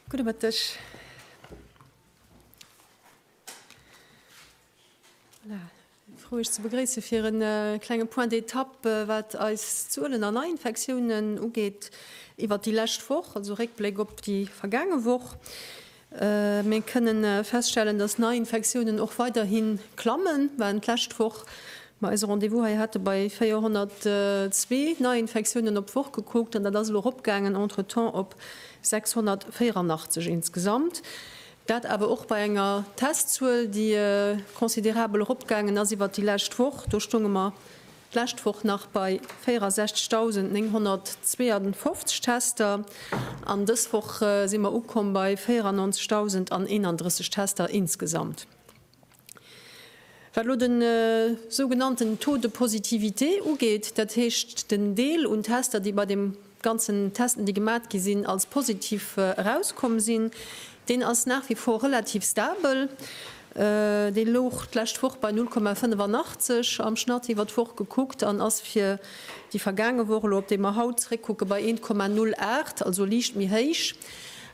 Gudde Mëtteg. Voilà. Frou Iech ze begréisse fir e klenge Point d'étape, wat eis Zuelen an Neiinfektiounen ugeet iwwert déi lescht Woch, also Réckbléck op déi vergaange Woch. Mir kënne feststellen, dass d'Neiinfektiounen och weiderhi klammen, waren d'lescht Woch, wou mer eise Rendez-vous hei hate, bei 402 Neiinfektiounen op d'Woch gekuckt an dat ass elo eropgaangen entretemps op 684 insgesamt. Dat awer och bei enger Testzuel, déi considerabel eropgaangen ass iwwert déi lescht Woch. Do stounge mer D'lescht Woch nach bei 64.952 Tester an dës Woch si mer ukomm bei 94.031 Tester insgesamt. Wat elo de sougenannten Taux de positivité ugeet, dat heescht den Deel un Tester, déi bei dem ganzen Testen, déi gemat gi sinn, als positiv erauskomm sinn. Deen ass nach wie vor relativ stabel. Dee louch d'lescht Woch bei 0,85 am Schnatt iwwer d'Woch gekuckt an ass fir déi vergaange Woch, elo op déi mer haut zréckkucke, bei 1,08, also liicht méi héich,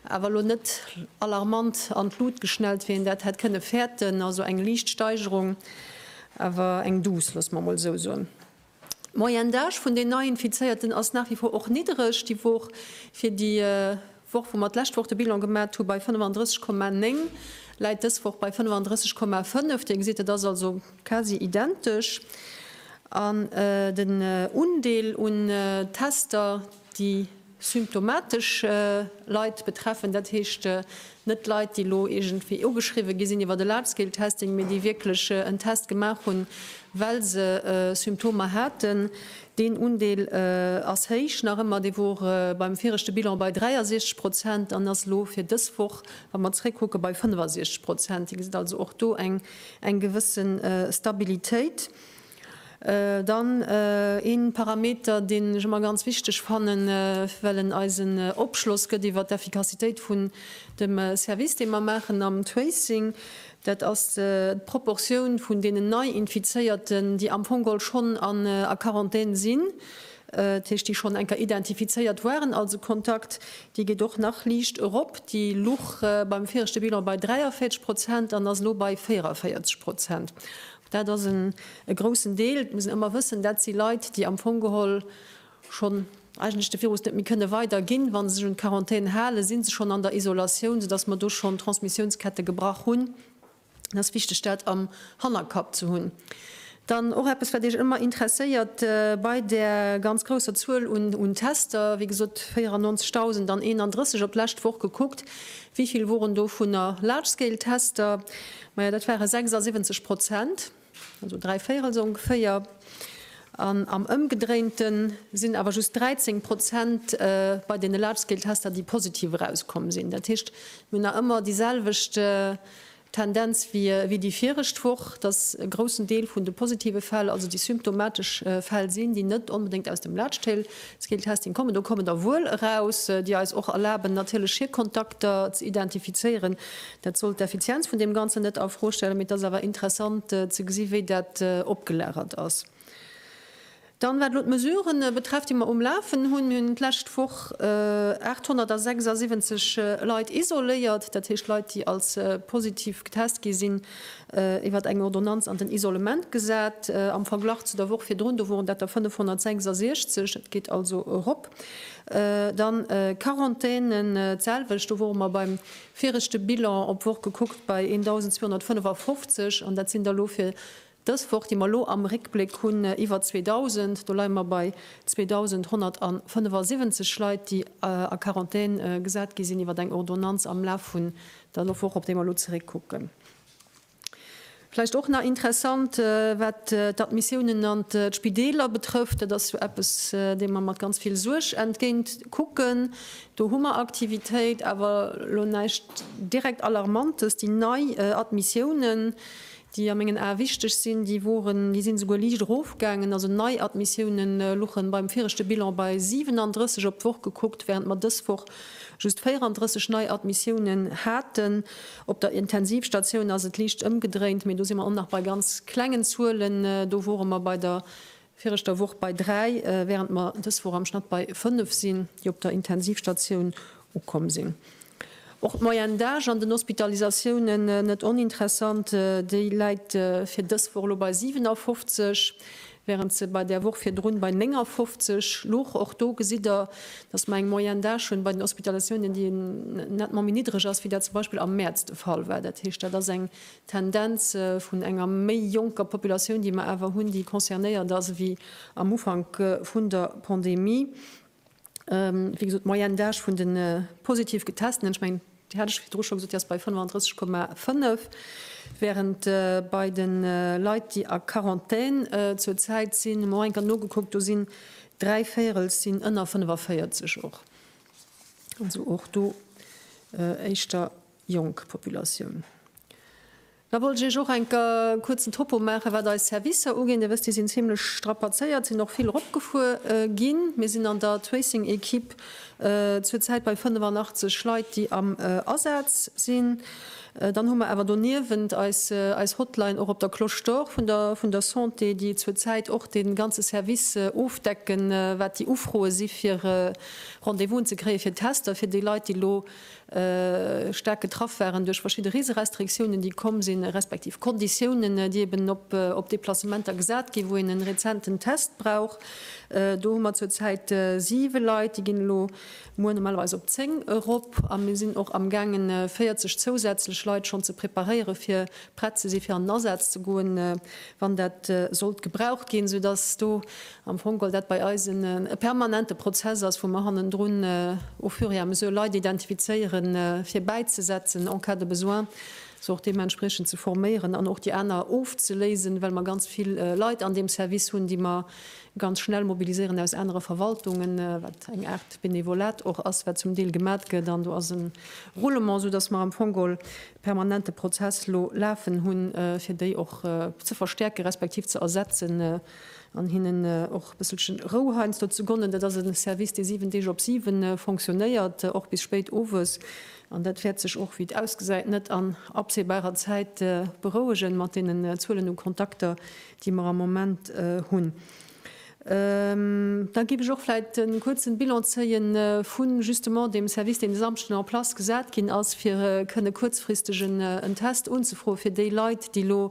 awer elo net alarmant an d'Lut geschnellt, wéi een dat hätt kënne fäerten. Also eng liicht Steigerung, awer eng duuss, loosse mer emol esou soen. D'Moyenne d'âge vun den Neiinfizéierten ass nach wie vor och niddereg, déi Woch, fir déi Woch wou mer d'lescht Woch de Bilan gemat hu bei 35,9, läit dës Woch bei 35,5. Dir gesitt, et ass also quasi identesch. An den Undeel un Tester, déi. symptomatesch Leit betreffen, dat heescht net Leit, déi elo iergendwéi ugeschriwwe gi sinn iwwer e Large-Scale-Testing, mee déi wierklech en Test gemaach hunn, well se Symptomer haten. Deen Undeel ass héich nach ëmmer. Dee wor beim viregte Bilan bei 63 Prozent an ass elo fir dës Woch, wa mer zréckkucke, bei 65 Prozent. Dir gesitt also och do eng gewësse Stabilitéit. Dann ee Parameter, deen ech ëmmer ganz wichteg fannen, well en eis en Opschloss gëtt iwwert d'Effikassitéit vun dem Service, dee mer maachen am Tracing, dat ass d'Proportioun vun deenen Nei-Infizéierten, déi am Fong geholl schonn a Quarantän sinn, dat heescht, déi schonn eng Kéier identifizéiert waren als e Kontakt. Déi geet och nach liicht erop. Déi luch beim viregte Bilan bei 43 Prozent an ass elo bei 44 Prozent. Dat ass en e groussen Deel. Et muss een ëmmer wëssen, dat si Leit, déi am Fong geholl schonn eigentlech de Virus net méi kënne weiderginn. Wa se sech un d'Quarantän halen, si se schonn an der Isolatioun, soudass mer do schonn Transmissiounsketten gebrach hunn. Et ass wichteg, dat am Hannerkapp ze hunn. Dann och eppes, wat Iech ëmmer interesséiert bei där ganz grousser Zuel un Tester, wéi gesot 94.000, dann 31 op d'lescht Woch gekuckt, wéi vill woren dovunner Large-Scale-Tester? Maja, dat ware 76 Prozent, also dräi Véirel esou ongeféier. An am ëmgedréinte sinn awer just 13 Prozent bei deene Large-Scale-Tester, déi positiv erauskomm sinn. Dat heescht, mir hunn nach ëmmer déi selwecht Tendenz wéi déi viregt Woch, dass e groussen Deel vun de positive Fäll also déi symptomatesch Fäll sinn, déi net onbedéngt aus dem Large-Scale-Testing kommen. Do kommen der wuel eraus, déi eis och erlaben, natierlech hir Kontakter ze identifizéieren. Dat soll d'Effizienz vun deem Ganzen net a Fro stellen, mee et ass awer interessant ze gesi wéi dat opgelagert ass. Dann, wat elo d'Mesure betrefft, déi mer um Lafen hunn, hunn d'lescht Woch 876 Leit isoléiert, dat heescht Leit, déi als positiv getest gi sinn, iwwert eng Ordonnanz an den Isolement gesat. Am Verglach zu der Woch virdrun, do woren dat der 566, dat geet also erop. Dann Quarantänen, d'selwecht, do wore mer beim Fir ech de Bilan op Woch gekuckt bei 1.255, an dat sinn der elo fir dës Woch, déi mer elo am Réckbléck hunn, iwwer 2.000. Do leie mer bei 2.175 Leit, déi a Quarantän gesat gi sinn iwwer eng Ordonnanz am Laf vun der Woch, op déi mer elo zeréckkucken. Vläicht och nach interessant, wat d'Admissiounen an d'Spideeler betrëfft. Dat ass jo eppes, deem mer mat ganz vill Suerg entgéint kucken. Do hu mer Aktivitéit, awer elo näischt direkt Alarmantes. Déi nei Admissiounen, déi a mengen Ae wichteg sinn, déi woren, déi sinn esouguer liicht erofgaangen. Also nei Admissiounen luchen beim viregte Bilan bei 37 op d'Woch gekuckt, während mer dës Woch Just 34 nei Admissiounen haten. Op der Intensivstatioun ass et liicht ëmgedréint, mee do si mer och nach bei ganz klengen Zuelen. Do wore mer bei der viregter Woch bei dräi, wärend mer dës Woch am Schnatt bei fënnef sinn, déi op der Intensivstatioun ukomm sinn. Och d'Moyenne d'âge an den Hospitalisatiounen, net oninteressant, déi läit fir dës Woch elo bei 57. während se bei der Woch virdrun bei 59 louch. Och do gesitt Der, dass mer eng Moyenne d'âge hunn bei den Hospitalisatiounen, déi nettement méi niddreg ass, wéi dat zum Beispill am Mäerz de Fall war. Dat heescht, dat ass eng Tendenz vun enger méi jonker Populatioun, déi mer awer hunn, déi concernéiert ass ewéi am Ufank vun der Pandemie. Wéi gesot, d'Moyenne d'âge vun de positiv Getestenen, ech mengen, déi hat ech virdru scho gesot, déi ass bei 35,5, wärend bei de Leit, déi a Quarantän zur Zäit sinn, hu mer och eng Kéier nogekuckt, do sinn dräi Véirel sinn ënner 45 och. Also och do éischter jonk Populatioun. Da wollt ech iech och enk e kuerzen Topo maachen, wat eis Servicer ugeet. Dir wësst, déi sinn zimmlech strapazéiert, sinn och vill eropgefuer ginn. Mir sinn an der Tracing-Ekipp zur Zäit bei 85 Leit, déi am Asaz sinn. Dann hu mer awer doniewent eis Hotline och op der Cloche d'Or vun der Santé, déi zur Zäit och dee ganze Service ofdecken, wat déi Ufroe si fir Rendez-vousen ze kréien, fir Tester fir déi Leit, déi elo staark getraff waren duerch verschidde Reeserestriktiounen, déi komm sinn, respektiv Konditiounen, déi eben op Deplacementer gesat ginn, wou een e rezenten Test brauch. Do hu mer zur Zäit siwe Leit, déi ginn elo muer normalerweis op zéng erop. A mir sinn och amgaangen, 40 zousätzlech Leit schonn ze preparéiere fir prett ze si fir an den Asaz ze goen, wann dat sollt gebraucht ginn, soudass do am Fong, well dat bei eis e permanente Prozess ass, wou mer hannendrun au fur et à mesure Leit identifizéieren, fir bäizesetzen en cas de besoin, se och deementspriechend ze forméieren an och déi aner ofzeléisen, well mer ganz vill Leit an deem Service hunn, déi mer ganz schnell mobiliséieren aus anere Verwaltungen, wat eng Aart Benevolat och ass, wat zum Deel gemat gëtt. An do ass e Roulement, soudass mer am Fong e permanente Prozess elo lafen hunn, fir déi och ze verstärken, respektiv ze ersetzen. An hinnen och e bësselchen Rou heiansdo ze gonnen. Dat ass e Service, dee 7 Deeg op 7 fonctionnéiert, och bis spéit owes. An dat wäert sech och, wéi et ausgesäit, net an absehbarer Zäit berouegen, mat deenen Zuelen u Kontakter, déi mer am Moment hunn. Da géif ech och vläicht e kuerzen Bilan zéie vu justement deem Service, deen e Samschden en place gesat ginn ass, fir kënne kuerzfristeg en Test unzefroen, fir déi Leit, déi elo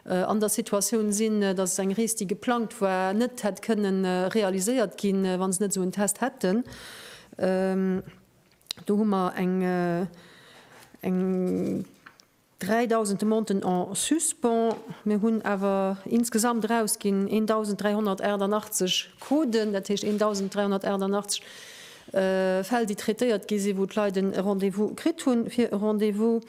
an der Situatioun sinn, dass eng Rees, déi geplangt war, net hätt kënne realiséiert ginn, wa se net esou en Test hätten. Do hu mer eng 3.000 Demanten en suspens. Mir hunn awer insgesamt erausginn 1.388 Coden, dat heescht 1.388 Fäll déi traitéiert gi sinn, wou d'Leit en Rendez-vous kritt hunn fir e Rendez-vous.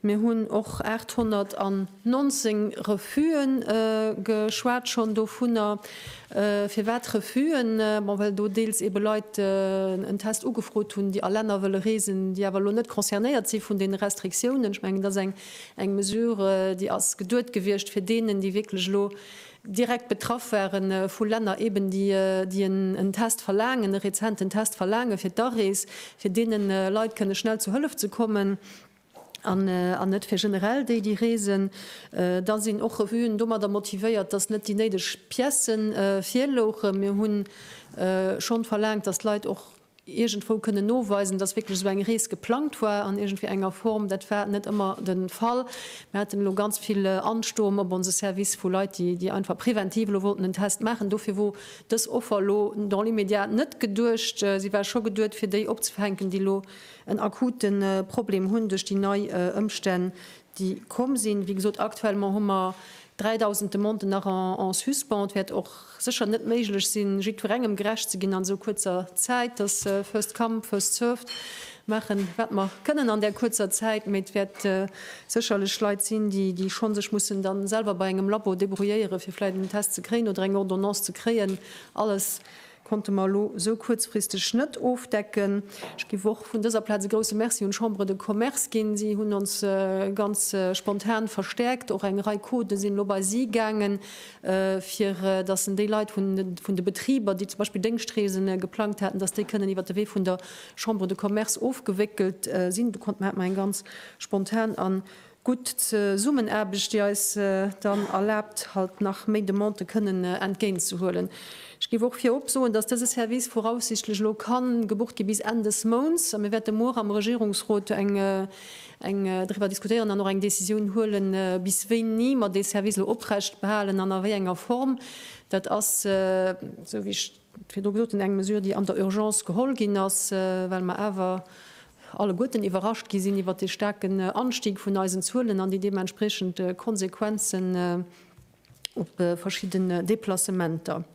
Mir hunn och 819 Refuse geschwat schonn dovunner. Firwat Refuse? Bon, well do deels eebe Leit en Test ugefrot hunn, déi a Länner wëlle reesen, déi awer elo net concernéiert si vun deene Restriktiounen. Ech mengen, dat ass eng Mesure, déi ass geduet gewiescht fir deenen, déi wierklech elo direkt betraff ware vu Länner eben, déi en Test verlaangen, e rezenten Test verlaange fir d'Arees, fir deene Leit kënne schnell zu Hëllef ze kommen an net fir generell déi, déi reesen. Da sinn och Revuen domadder motivéiert, datt net déi néideg Piècen virlouchen. Mir hu schonn verlaangt, datt d'Leit och iergendwou kënnen noweisen, dass wierklech esou eng Rees geplangt war an iergendwéi enger Form. Dat war net ëmmer de Fall. Mir haten elo ganz vill Anstoom op onse Service vu Leit, déi, déi einfach preventiv elo wollten en Test maachen. Dofir wor dës Offer elo dans l'immédiat net geduecht. Si war scho geduet, fir déi opzefänken, déi elo en akute Problem hunn duerch déi nei Ëmstänn, déi komm sinn. Wéi gesot, aktuellement hu mer 3.000 Demanden nach en suspens. Et wäert och sécher net méiglech sinn, jiddwerengem gerecht ze ginn an esou kuerzer Zäit. Dass first come, first served maachen, wat mer kënnen an där kuerzer Zäit. Mee et wäert sécherlech Leit sinn, déi schonn sech mussen da selwer bei engem Labo débrouilléieren, fir vläicht en Test ze kréien oder eng Ordonnance ze kréien. Alles konnte mer elo esou kuerzfristeg net ofdecken. Ech géif och vun dëser Plaz e grousse Merci un d'Chambre de Commerce ginn. Si hunn ons ganz spontan verstäerkt. Och eng Rei Codë sinn elo bei si gaangen, fir dass en déi Leit vun de Betriber, déi zum Beispill Déngschtreese geplangt haten, dass déi kënnen iwwert de Wee vun der Chambre de Commerce ofgewéckelt sinn. Do konnte mer, hat mer eng ganz spontan a gutt Zesummenaarbecht, déi eis dann erlaabt, halt nach méi Demandë kënnen entgéintzehuelen. Ech géif och virop soen, dass dëse Service voraussichtlech elo ka gebucht gi bis Enn des Mounts, a mir wäerte muer am Regierungsrot driwwer diskutéieren an och eng Décisioun huele bis wéini mer dee Service elo oprechtbehalen an a wéi enger Form. Dat ass, esou wéi ech. virdru gesot hunn, eng Mesure, déi an der Urgence geholl ginn ass, well mer awer alleguerten iwwerrascht gi sinn iwwert dee staarken Anstieg vun eisen Zuelen an déi deementspreechend Konsequenzen op verschidden Deplacementer.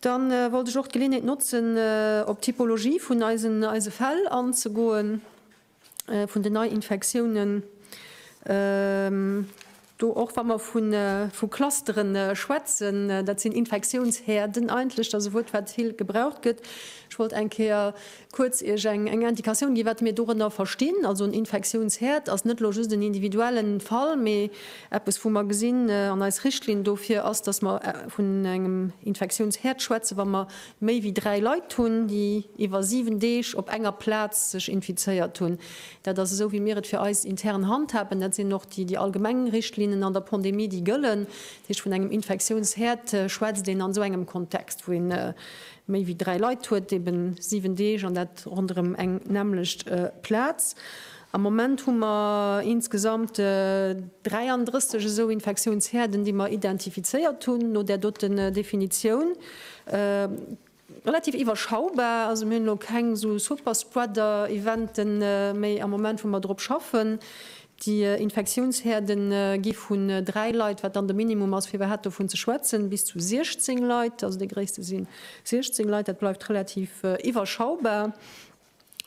Dann wollt ech och d'Geleeënheet notzen, op d'Typologie vun eisen Fäll anzegoen. vun den Neiinfektiounen, do och wa mer vu Clustere schwätzen, dat sinn Infektiounshäerden eigentlech, dat ass e Wuert, wat vill gebraucht gëtt. Ech wollt eng Kéier kuerz Iech eng Indikatioun ginn, wat mir dorënner verstinn. Also en Infektiounshäerd ass net elo just en individuelle Fall, mee eppes, wou mer gesinn an eis Richtlinn dofir ass, datt mer vun engem Infektiounshäerd schwätzen, wa mer Méi wéi dräi Leit hunn, déi iwwer 7 Deeg op enger Plaz sech infizéiert hunn. Dat ass esou wéi mir et fir eis intern handhaben. Dat sinn och déi allgemeng Richtlinnen an der Pandemie, déi gëllen. Dat heescht, vun engem Infektiounsherd schwätzt een an esou engem Kontext, wou ee méi wéi dräi Leit huet, eben 7 Deeg an dat ronderëm eng nämmlecht Plaz. Am Moment hu mer insgesamt 33 esou Infektiounshäerden, déi mer identifizéiert hunn no där doten Definitioun. Relativ iwwerschaubar, also mir hunn elo keng esou Superspreader-Evente méi am Moment, wou mer drop schaffen. Déi Infektiounshäerde gi vu dräi Leit, wat dann de Minimum ass, fir iwwerhaapt dovun ze schwätzen, bis zu 16 Leit, also dee gréisste si 16 Leit, dat bleift relativ iwwerschaubar.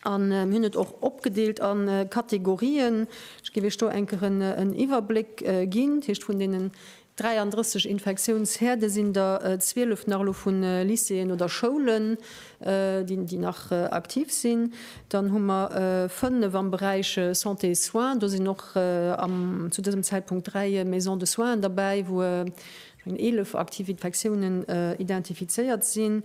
An mir hunn et och opgedeelt a Kategorien. Ech géif Iech do eng Kéier en Iwwerbléck ginn. Dat heescht, vun deenen 33 Infektiounsherde sinn der 12 nach elo vu Lycéeën oder Schoulen, déi nach aktiv sinn. Dann hu mer 5 am Beräich Santé et Soins. Do sinn och zu dësem Zäitpunkt 3 Maisons de soins derbäi, wou 11 aktiv Infektiounen identifizéiert sinn.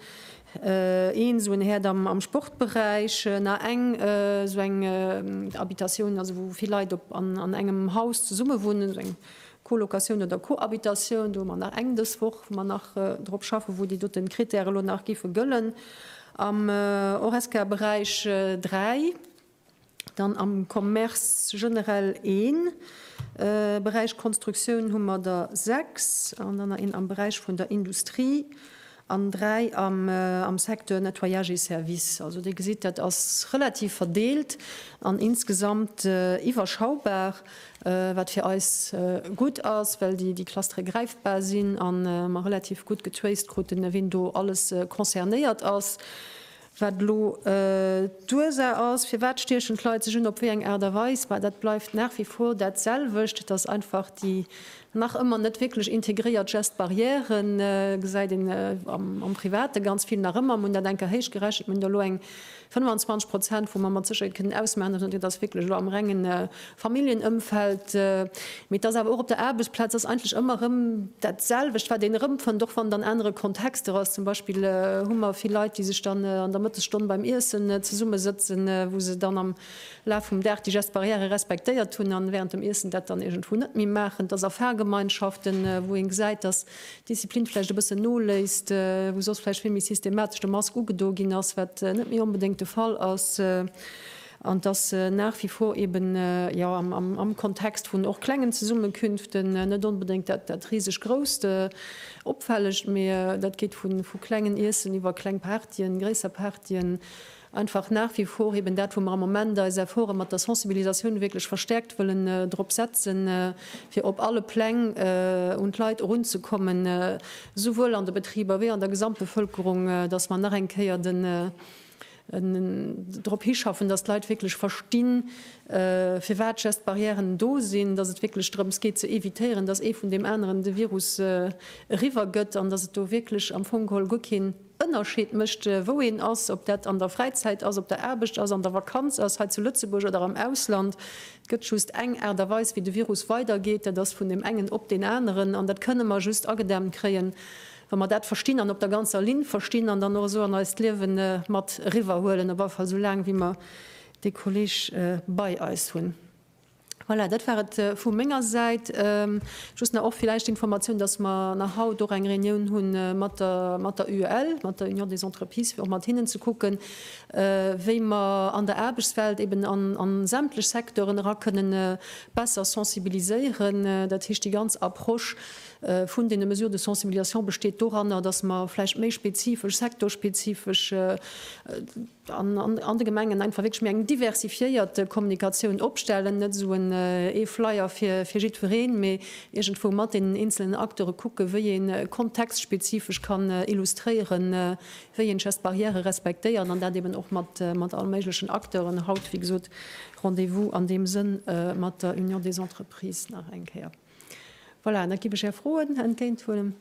Een esou en Häerd am Sportberäich, na eng esou eng Habitatioun, also wou vill Leit op an engem Haus zesumme wunnen, esou eng Colocation oder Cohabitatioun. Do hu mer nach eng dës Woch, wou mer nach drop schaffen, wou déi doten Critèrë lo nach géife gëllen. Am Horesca-Beräich dräi. Dann am Commerce generell een Beräich, Konstruktioun hu mer der sechs an dann nach een am Beräich vun der Industrie an dräi am Secteur Nettoyage et Services. Also Dir gesitt, dat ass relativ verdeelt an insgesamt iwwerschaubar, wat fir eis gutt ass, well déi Clustere gräifbar sinn a mer relativ gutt getraced kruten, wien do alles concernéiert ass. Wat elo d'Ursaach ass, firwat stiechen d'Leit sech un, op wéi eng Aart a Weis, bah, dat bleift nach wie vor dat selwecht. Et ass einfach déi nach ëmmer net wierklech integréiert Geste barrière, gesäit een am Private ganz vill nach ëmmer. Mir hunn dat eng Kéier héichgerechent, mir hunn do elo eng 25 Prozent, wou mer mat Sécherheet kënnen ausmachen, dass et net, et ass wierklech elo am rengen Familljenëmfeld, mee et ass awer och op der Aarbechtsplaz, ass eigentlech ëmmer erëm dat selwecht, wat een erëmfënnt, och wann et an anere Kontexter ass. Zum Beispill hu mer vill Leit, déi sech dann an der Mëttesstonn beim Iessen zesummesëtzen, wou se dann am Laf vum Dag déi Gestes barrières respektéiert hunn a wärend dem Iessen dat dann iergendwou net méi maachen. Et ass a Fahrgemeinschaften, wou ee gesäit, dass d'Disziplin vläicht e bëssen noléisst, wou soss vläicht vill méi systematesch de Mask ugedo ginn ass, wat net méi onbedéngt de Fall ass. An et ass nach wie vor eben, jo, am Kontext vun och klengen Zesummenkünften, net onbedéngt dat riseg grousst, opfällegt, mee dat geet vu klengen Iessen iwwer kleng Partyen, gréisser Partyen, einfach nach wie vor eben dat, wou mer am Moment eis Efforte mat der Sensibilisatioun wierklech verstärkt wëllen drop setzen, fir op alle Pläng un d'Leit erunzekommen, souwuel an de Betriber wéi an der Gesamtbevölkerung, dass mer nach eng Kéier den. drop hischaffen, dass d'Leit wierklech verstinn, firwat d'Geste-barrièren do sinn, dass et wierklech drëms geet ze evitéieren, dass ee vun deem aneren de Virus eriwwergëtt an dass et do wierklech am Fong geholl guer keen Ënnerscheed mécht, wou een ass, ob dat an der Fräizäit ass, op der Aarbecht ass, an der Vakanz ass, hei zu Lëtzebuerg oder am Ausland. Et gëtt just eng Aart a Weis, wéi de Virus weidergeet, dat ass vun deem engen op deen aneren. An dat kënne mer just agedämmt kréien, wa mer dat verstinn an op der ganzer Linn verstinn an dann och esou an eist Liewe mat eriwwerhuelen, op alle Fall esou laang wéi mer dee Kolleg bei eis hunn. Voilà, dat war et vu menger Säit. Just nach och villäicht d'Informatioun, dass mer nach haut och eng Reunioun hu mat der UEL, mat der Union des Entreprises, fir och mat hinnen ze kucken, wéi mer an der Aarbechtswelt eben an sämtlech Secteuren era kënnen besser sensibiliséieren, dat heescht déi ganz Approche vun deene Mesures de sensibilisation besteet doranner, dass mer vläicht méi spezifesch, sektorspezifesch an de Gemengen einfach wierklech méi eng diversifiéiert Kommunikatioun opstellen, net esou en ee Flyer fir jiddwereen, mee iergendwou mat deenen eenzelen Acteure kucke wéi ee kontextspezifesch kann illustréiere wéi een just d'Barrièrë respektéiert an dat eeben och mat all méiglechen Acteuren. Haut, wéi gesot, Rendez-vous an deem Sënn mat der Union des Entreprises nach eng Kéier. Voilà, an da giff ech är Froen entgéinthuelen.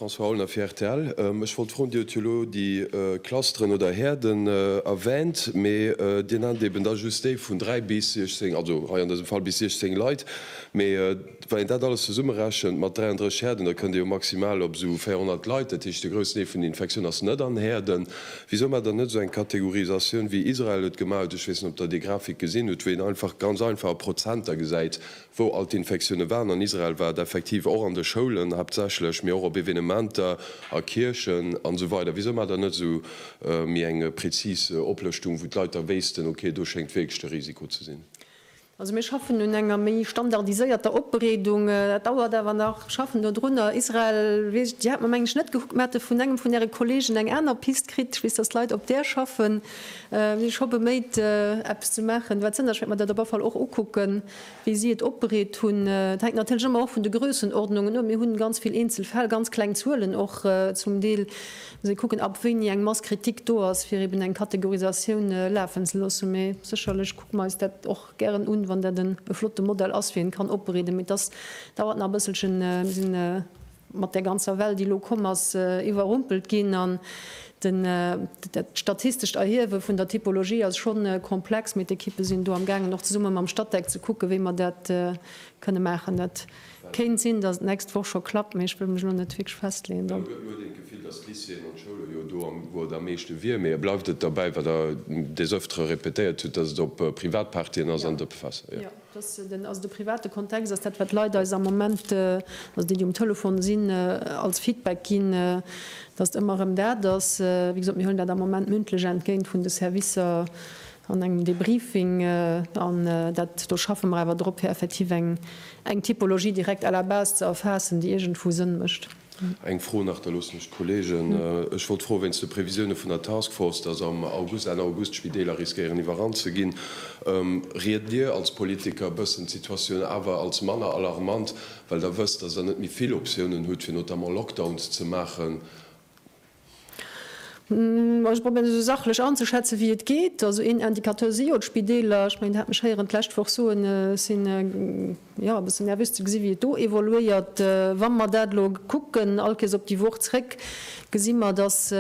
François Aulner fir rtl, Ech wollt froen, Dir hutt jo elo déi Clusteren oder Häerden erwänt, mee Dir nennt eben da just déi vun 3 bis 16, also hei an dësem Fall bis 16 Leit, mee Wann een dat alles zesummerechent mat 33 Häerden, da kënnt ee jo maximal op esou 400 Leit. Dat heescht, de groussen Deel vun den Infektioune ass net an Häerden. Wisou maacht Der net esou eng Kategorisatioun, wéi Israel et gemaach huet, ech weess net, ob Der déi Grafik gesinn hutt, wou een einfach, ganz einfach a Prozenter gesäit, wou all d'Infektioune waren. An Israel war et effektiv och an de Schoulen haaptsächlech, mee och op Evenementer, a Kierchen an esou weider. Wisou maacht Der net esou méi eng prezis Oplëschtung, wou d'Leit da wéissten, okay, do schéngt wierklech de Risiko ze sinn? Also mir schaffen un enger méi standardiséierter Opbereedung. Dat dauert awer nach. Ech schaffen do drunner. Israel, Dir hat mer, mengen ech, net gekuckt. Mer hate vun engem vun Äre Kolleegen eng aner Pist kritt. Ech weess, dass d'Leit op där schaffen. Mir si scho beméit, eppes ze maachen. Wat sënneg, ech wäert mer dat op alle Fall och ukucken, wéi si et opbereet hunn. Et hänkt natierlech ëmmer och vun de Grössenordnungen of. Mir hu ganz vill eenzel Fäll, ganz kleng Zuelen och zum Deel. Mir musse kucken, ab wéini eng Masse critique do ass, fir eeben eng Kategorisatioun lafen ze loossen. Mee sécherlech. Kucken eis dat och gären un, wann dat en e flotte Modell ass fir een kann opbereeden. Mee dass dauert nach e bësselchen. Mir sinn mat där ganzer Well déi elo komm ass iwwerrumpelt ginn an den dat statistescht Erhiewe vun der Typologie ass schonn komplex. Mee d'Ekippe sinn do am gaangen och zesumme mam Statec ze kucken wéi mer dat kënne maachen. Dat. Kéint sinn, datt et nächst Woch scho klappt, mee ech wëll mech elo net wierklech festleeën dann. Huet huet een d'Gefill, datt d'Lycéeën an d'Schoulen, jo do am wou et am meeschte wier, mee bleift et derbäi wat Der des öftere répétéiert hutt, datt et op Privatpartyen ass an op Fester? Jo. Jo, datt den, also de private Kontext ass dat wat d'Leit eis am Moment, also déi déi um Telefon sinn, als Feedback ginn, datt ëmmer erëm dat ass. Wéi gesot, mir huelen dat am Moment mündlech entgéint vun de Servicer. An engem Debriefing, an dat do schaffe mer awer drop, fir effektiv eng Typologie direkt à la base ze erfaassen, déi iergendwou Sënn mécht. Eng Fro nach, da loosse mech d'Kollegen. Ech wollt froen, wéinst de Previsioune vun der Task Force, dass am August, Enn August d'Spideeler riskéieren iwwerrannt ze ginn, ried Dir als Politiker e bëssen d'Situatioun awer als manner alarmant, well Der wësst, dass Der net méi vill Optiounen hutt, fir notamment Lockdowns ze maachen? Ech probéieren esou sachlech anzeschätzen, wéi et geet. Also een Indicateur si jo d'Spideeler. Ech mengen, Der hat mech héieren d'lescht Woch soen, ech sinn, jo, e bëssen nervös ze gesi wéi et do evoluéiert. Wa mer dat elo kucken, all Kees op déi Woch zréck, gesi mer, datt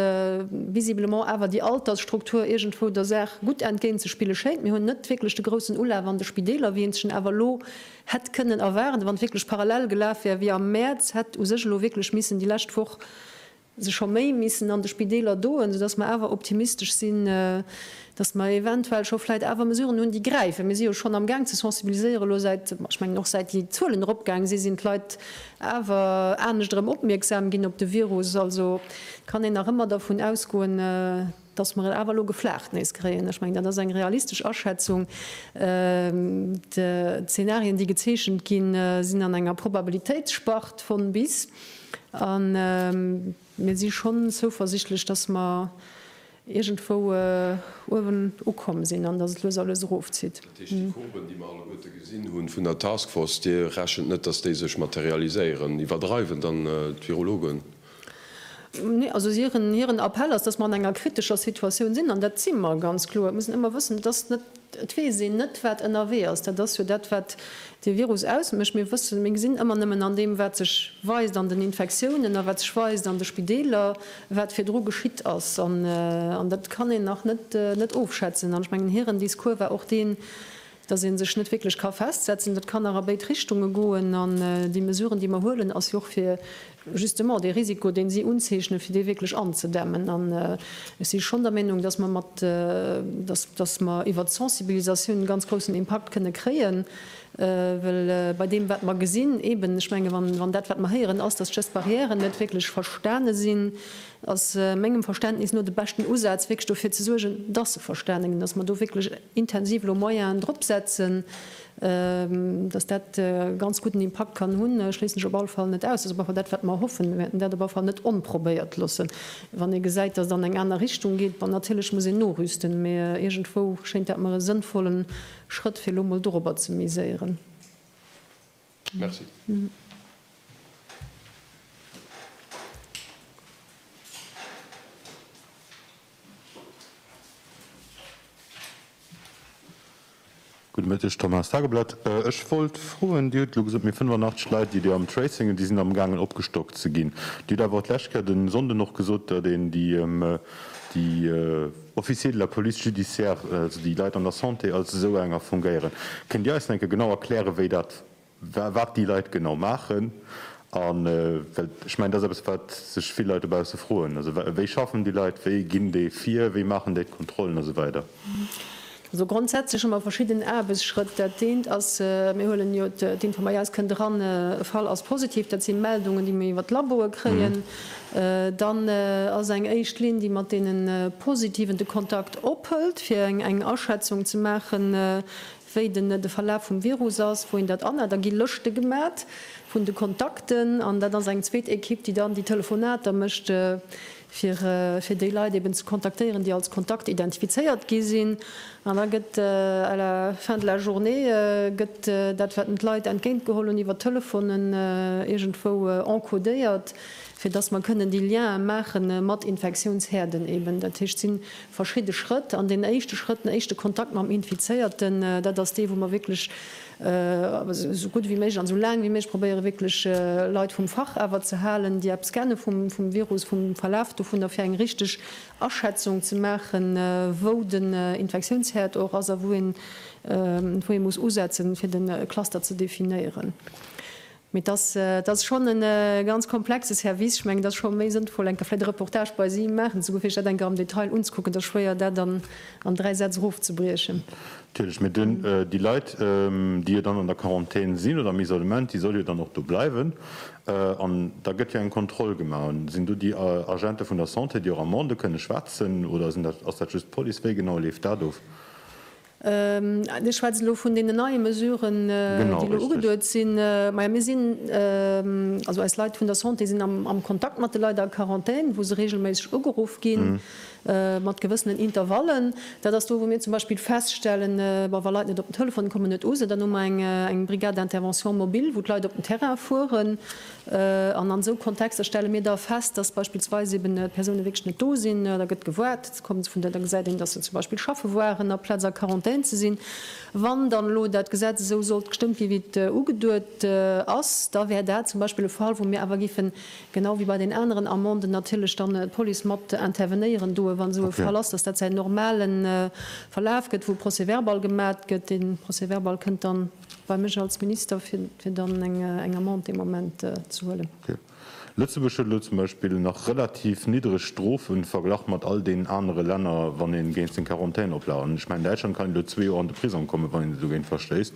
visiblement awer déi Altersstruktur iergendwou der Saach gutt entgéint ze spille schéint. Mir hunn net wierklech de groussen Ulaf an de Spideeler, wéi een sech en awer elo hätt kënnen erwaarden, wann et wierklech parallel gelaf wär wéi am Mäerz. Hätt u sech elo wierklech missen déi lescht Woch se scho méi missen an de Spideeler doen, soudass mer awer optimistesch sinn, dass mer eventuell scho vläit awer Mesuren hunn, déi gräifen. Mir si jo schonn amgaang ze sensibiliséieren elo säit, ech mengen och säit déi Zuelen eropgaang sinn, sinn d'Leit awer anescht erëm opmierksam ginn op de Virus. Also kann een nach ëmmer dervun ausgoen, Dass mer et awer elo geflaacht nees kréien, ech mengen, dat ass eng realistesch Aschätzung. D'Zenarien, déi gezeechent ginn, sinn an enger Probabilitéitsspart von bis. A mir si schonn zouversichtlech, dass mer iergendwou uewen ukomm sinn an dass et lues a lues erofzitt. Dat heescht, déi Courben, déi mer alleguerte gesinn hu vun der Task Force, Dir rechent net, dass déi sech materialiséieren? Iwwerdreiwen dann d'Virologen? Nee, also hiren Appell ass, dass mer an enger kritescher Situatioun sinn, an dat si mer ganz kloer. Et muss een ëmmer wëssen, et ass net, et weess een net, wat ënnerwee ass. Dat ass jo dat, wat dee Virus ausmécht. Mir wëssen, mir gesinn ëmmer nëmmen an deem, wat sech weist an den Infektiounen a wat sech weist an de Spideeler, wat virdru geschitt ass. An dat kann een nach net ofschätzen. An ech mengen, hiren Discours war och deen, dass ee sech net wierklech ka festsetzen. Dat kann nach a béid Richtunge goen. An déi Mesuren, déi mer huelen, ass jo och fir justement dee Risiko, deen si unzeechnen, fir dee wierklech anzedämmen. An ech si schonn der Meenung, dass mer mat, dass mer iwwert d'Sensibilisatioun e ganz groussen Impakt kënne kréien, well bei deem, wat mer gesinn, eeben, ech menge wann dat, wat mer héieren, ass, dass d'Gest-barrièren net wierklech verstane sinn, ass mengem Verständnis no de beschten Usaz, wierklech dofir ze suergen, dass se verstane ginn, dass mer do wierklech intensiv elo Moyenen drop setzen, dass dat e ganz gudden Impakt kann hunn. Ech schléissen ech op alle Fall net aus. Dat ass op alle Fall dat, wat mer hoffen. Mir wäerten dat op alle Fall net onprobéiert loossen, wann ee gesäit, dass et an eng aner Richtung geet. Bon, natierlech muss een norüsten, mä iergendwou schéint dat mer e sënnvollen Schrëtt, fir elo emol dorobber ze miséieren. Merci. Gudde Mëtteg, Tom Haas, Tageblatt. Ech wollt froen, Dir hutt elo gesot, mir 85 Leit, déi Dir am Tracing hutt, déi sinn amgaangen opgestockt ze ginn. Dir hutt awer och d'lescht Kéier de Sonnden och gesot, datt een déi Officier de la police judiciaire, also déi Leit an der Santé, als esou enger fungéieren. Kënnt Dir eis enke genau erklären, wéi dat, wat déi Leit genau maachen? A well ech mengen, dat ass eppes, wat sech vill Leit dobausse froen, also wéi schaffen déi Leit, wéi ginn déi vir, wéi maachen déi d'Kontrollen a sou weider? Also grondsätzlech hu mer verschidden Aarbechtsschrëtt. Dat eent ass, mir huelen jo d'Information, eis kënnt eran, e Fall ass positiv. Dat si Meldungen, déi mir iwwer d'Laboe kréien. Dann ass eng éischt Linn, déi mat deene Positiven de Kontakt ophëlt, fir eng Aschätzung ze maachen, wéi den de Verlaf vum Virus ass, wou een dat anhält. Da gi Lëschte gemat vun de Kontakten an dat ass eng zweet Ekipp, déi dann déi Telefonater mécht. fir déi Leit eben ze kontaktéieren, déi als Kontakt identifizéiert gi sinn, an da gëtt à la fin de la journée gëtt dat, wat en d'Leit entgéint geholl hunn, iwwer Telefonen iergendwou encodéiert, fir dass mer kënnen déi Liene maache mat Infektiounshäerden eben. Dat heescht, et si verschidde Schrëtt, an deen éischte Schrëtt, den éischte Kontakt mam Infizéierten, dat ass dee wou mer wierklech esou gutt wéi méiglech an esou laang wéi méiglech probéiere wierklech Leit vum Fach awer ze halen, déi eppes kenne vum Virus, vum Verlaf dovunner, fir eng richteg Aschätzung ze maachen, wou den Infektiounsherd och ass a wou ee muss usetzen, fir de Cluster ze definéieren. Mee dat ass schonn e ganz komplexe Service. Ech mengen, et ass scho méi sënnvoll, enker vläicht e Reportage bei si maachen ze goen, fir sech dat enker am Detail unzekucken. Et ass schwéier, dat an dräi Sätz erofzebriechen. Natierlech. Mee déi Leit, déi jo dann an der Quarantän sinn oder am Isolement, déi solle jo dann och do bleiwen. An da gëtt jo eng Kontroll gemaach. An sinn do déi Agente vun der Santé, déi och Amendë kënne schwätzen oder sinn dat, ass dat just d'Police? Wéi genau leeft dat of? Dir schwätzt elo vun deenen neie Mesuren, déi elo ugeduet sinn. Majo, mir sinn, also eis Leit vun der Santé sinn am Kontakt mat de Leit a Quarantän, wou se reegelméisseg ugeruff ginn, mat gewëssenen Intervallen. Dat ass do, wou mir zum Beispill feststellen, bon, wa Leit net op den Telefon kommen, net u sinn, dann hu mer eng Brigade d'intervention mobile, wou d'Leit op den Terrain fueren. An an esou Kontexter stelle mir da fest, dass beispillsweis eben Persoune wierklech net do sinn. Da gëtt gewaart, da komme se vun der, da gesäit een, dass se zum Beispill schaffe waren, aplaz a Quarantän ze sinn. Wann dann elo dat Gesetz esou sollt gestëmmt ginn, wéi et ugeduet ass, da wär dat zum Beispill e Fall, wou mir awer géifen, genau wéi bei den aneren Amenden, natierlech dann d'Police mat intervenéieren doe wann esou e Fall ass, dass dat säin normale Verlaf gëtt, wou e Procès-verbal gemat gëtt. Dee Procès-verbal kënnt dann. Bei mech als Minister, fir dann eng Amende dee Moment ze huelen. Okay. Lëtzebuerg huet elo zum Beispill nach relativ niddreg Strofen verglach mat all deenen anere Länner, wann ee géint seng Quarantän-Oplagen. An ech mengen, Däitschland kann een elo zwee Joer an de Prisong kommen, wann een sech dogéint verstéisst.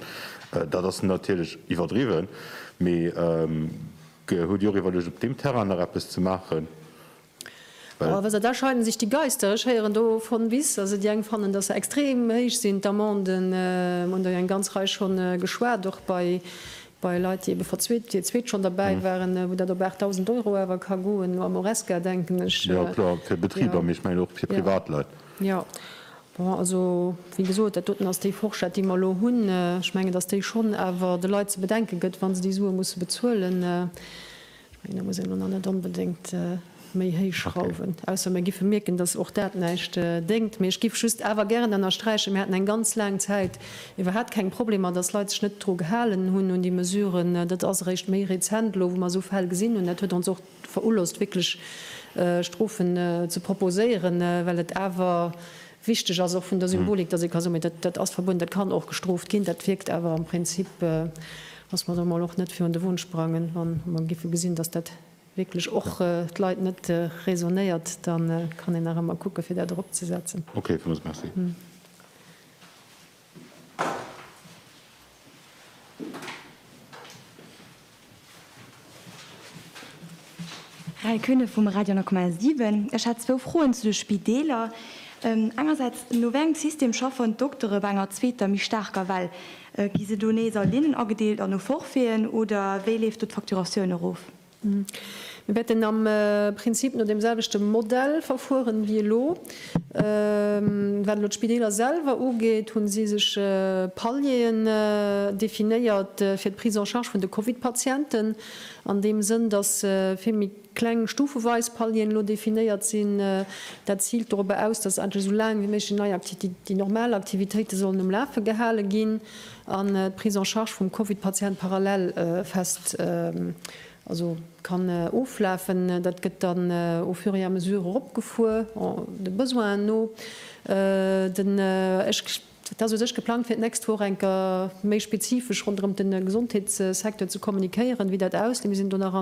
Dat ass natierlech iwwerdriwwen, mee hutt Dir och iwwerluecht, op deem Terrain nach eppes ze maachen? Well. Da scheiden sech déi Geister. Ech héieren do von bis. Also déi eng fannen, dass se extrem héich sinn, d'Amenden. Mir hunn der jo eng ganz Rei scho geschwat, och bei Leit, déi ebe verzweet, déi zweet schonn derbäi waren, wou dat op 8.000 Euro awer ka goen. No Amoresca denken ech. Jo, kloer, fir Betriber, mee ech mengen och fir Privatleit. Jo, bon, also wéi gesot, dat doten ass déi Forschett, déi mer elo hunn. Ech mengen, dass déi schonn awer de Leit ze bedenke gëtt, wa se déi Sue musse bezuelen. Ech mengen, do muss een elo nach net onbedéngt méi héich schrauwen, ausser mir géife mierken, dass och dat näischt déngt. Mee ech géif just awer gären ënnersträichen, Mir haten eng ganz laang Zäit iwwerhat keng Problemer, dass Leit sech net dru gehalen hunn, un déi Mesuren. Dat ass eréischt méi rezent elo, wou mer esou Fäll gesinn hunn. Dat huet ons och verulost wierklech Strofen ze proposéieren, well et awer Wichteg ass och vun der Symbolik, dass ee ka soen, dat, dat ass verbueden, dat kann och gestrooft ginn. Dat wierkt awer am Prinzip, dass mer do emol och net virun de Won sprangen, wa mer géife gesinn, dass dat wierklech och d'Leit net räsonnéiert, da kann een nach ëmmer kucke fir dat eropzesetzen. Okay, villmools merci. Rae Kühne vum Radio 9,7. Ech hätt zwou Froen zu de Spideeler. Engersäits, no wéi engem System schaffen d'Doktere bei enger zweeter, méi staarker Well? Gi se do nees a Linnen agedeelt an no Forfaiten, oder wéi leeft do d'Facturatioun erof? Mir wäerten am Prinzip no deem selwechte Modell verfueren wéi elo. Wat elo d'Spideeler selwer ugeet, hu si sech Palieren definéiert fir d'Prise en charge vun de Covid-Patienten, an deem Sënn, dass vill méi kleng stufeweis Palieren elo definéiert sinn. Dat ziilt dorobber aus, dass endlech esou laang wéi méiglech déi normal Aktivitéite sollen um Lafe gehale ginn. An d'Prise en charge vum Covid-Patient parallel fest, also kann oflafen. Dat gëtt dann au fur et à mesure eropgefuer, de Besoinen no. Den, ech, dat ass u sech geplangt fir d'nächst Woch enker méi spezifesch ronderëm de Gesondheetssecteur ze kommuniquéieren, wéi dat ausleet. Mir sinn do nach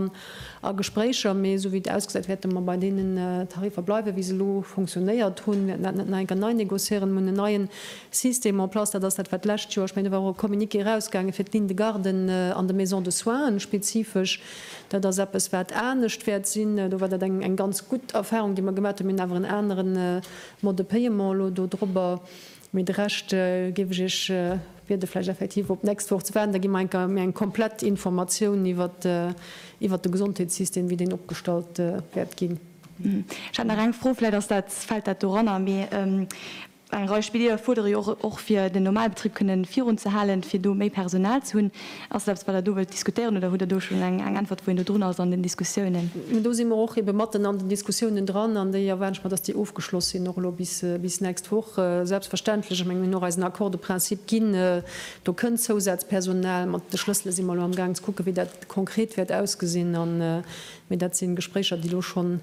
a Gespréicher, mee esou wéi et ausgesäit, wäerte mer bei deenen Tariffer bleiwen, wéi se elo funktionéiert hunn. Wäerten dat net nach enker nei negociéieren, um un en neien System en place, dat ass dat, wat d'lescht Joer, ech mengen do war och e Communiqué erausgaange fir d'Ligne de garden an de Maisons de soins spezifesch. Dat ass eppes, wat anescht wäert sinn. Do war dat eng ganz gutt Erfahrung, déi mer gemaat hunn. Mir hunn awer en anere Mode de paiement elo do drobber. Mee de Rescht géif ech Iech biede vläicht effektiv op d'nächst Woch ze waarden. Da gi mer enker méi eng komplett Informatioun iwwert de Gesondheetssystem, wéi deen opgestallt wäert ginn. Ech hat nach eng Fro, vläicht ass dat, fält dat doranner, mee Eng Rei Spidieler fuerdere jo och, fir den Normalbetrib kënne virunzehalen, fir do méi Personal ze hunn. Ass dat eppes, wat Der do wëllt diskutéieren, oder hutt Der do schonn eng Äntwert, wou een do drun ass an den Diskussiounen? Mä do si mer och ebe matten an den Diskussiounen dran, an déi erwaarden ech mer, datt déi ofgeschloss sinn, och elo bis nächst Woch. Selbstverständlech, ech mengen, mir hunn och eisen Accord de principe ginn, do kënnt Zousazpersonal. Mat de Schlëssele si mer elo am Gaang ze kucken, wéi dat konkret wäert ausgesinn. Mä dat si Gespréicher, déi elo schonn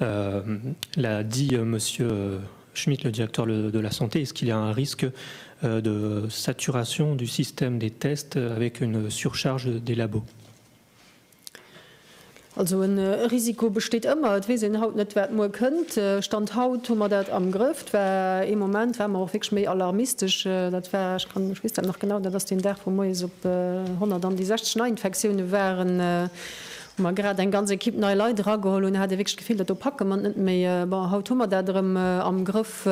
L'a dit Monsieur Schmit, le directeur de la santé, est-ce qu'il y a un risque de saturation du système des tests avec une surcharge des labos? Also e Risiko besteet ëmmer. Et weess een haut net, wat muer kënnt. Stand haut hu mer dat am Grëff. Et war ee Moment, ware mer och wierklech méi alarmistesch. Dat war, ech kann, ech weess dat nach genau, dat ass deen Dag, wou moies op 100 an déi 60 Neiinfektioune waren, wou mer grad eng ganz Equipe nei Leit erageholl hunn, hat ee wierklech d'Gefill, dat do packe mer et net méi. Bon, haut hu mer dat erëm am Grëff.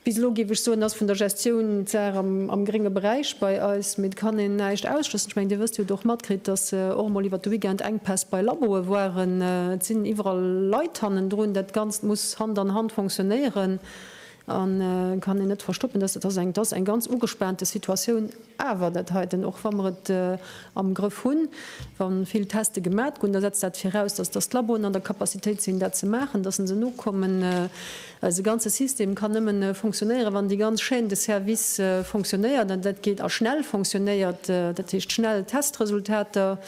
Bis elo, géif ech soen, ass vun der Gestioun d'Saach am grénge Beräich bei eis, mee et kann een näischt ausschlëssen. Ech mengen, Dir wësst, Dir hutt och matkritt, dass och emol iwwert de Weekend Enkpäss bei Laboe waren. Et sinn iwwerall Leit hannendrun. Dat Ganzt muss Hand an Hand fonctionnéieren. Et kann een net verstoppen, dass dat eng ganz ugespaante Situatioun awer dat heiten, och wa mer et am Grëff hunn, wa vill Teste gemat gou'n, da setzt dat viraus, dass d'Laboen an der Capacitéit sinn, dat ze maachen, dass se nokommen. Eise ganze System kann nëmmen fonctionnéieren, wann déi ganz Chaîne de service fonctionnéiert. An dat geet a schnell fonctionnéiert, dat heescht schnell Testresultater,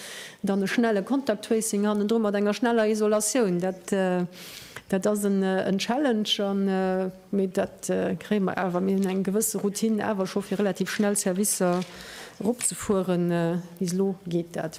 dann e schnelle Contact Tracing hannendru mat enger schneller Isolatioun. Dat. Dat ass en Challenge an, mee dat kréie mer awer. Mir hunn eng gewësse Routine awer scho fir relativ schnell Servicer eropzefueren. Bis elo geet dat.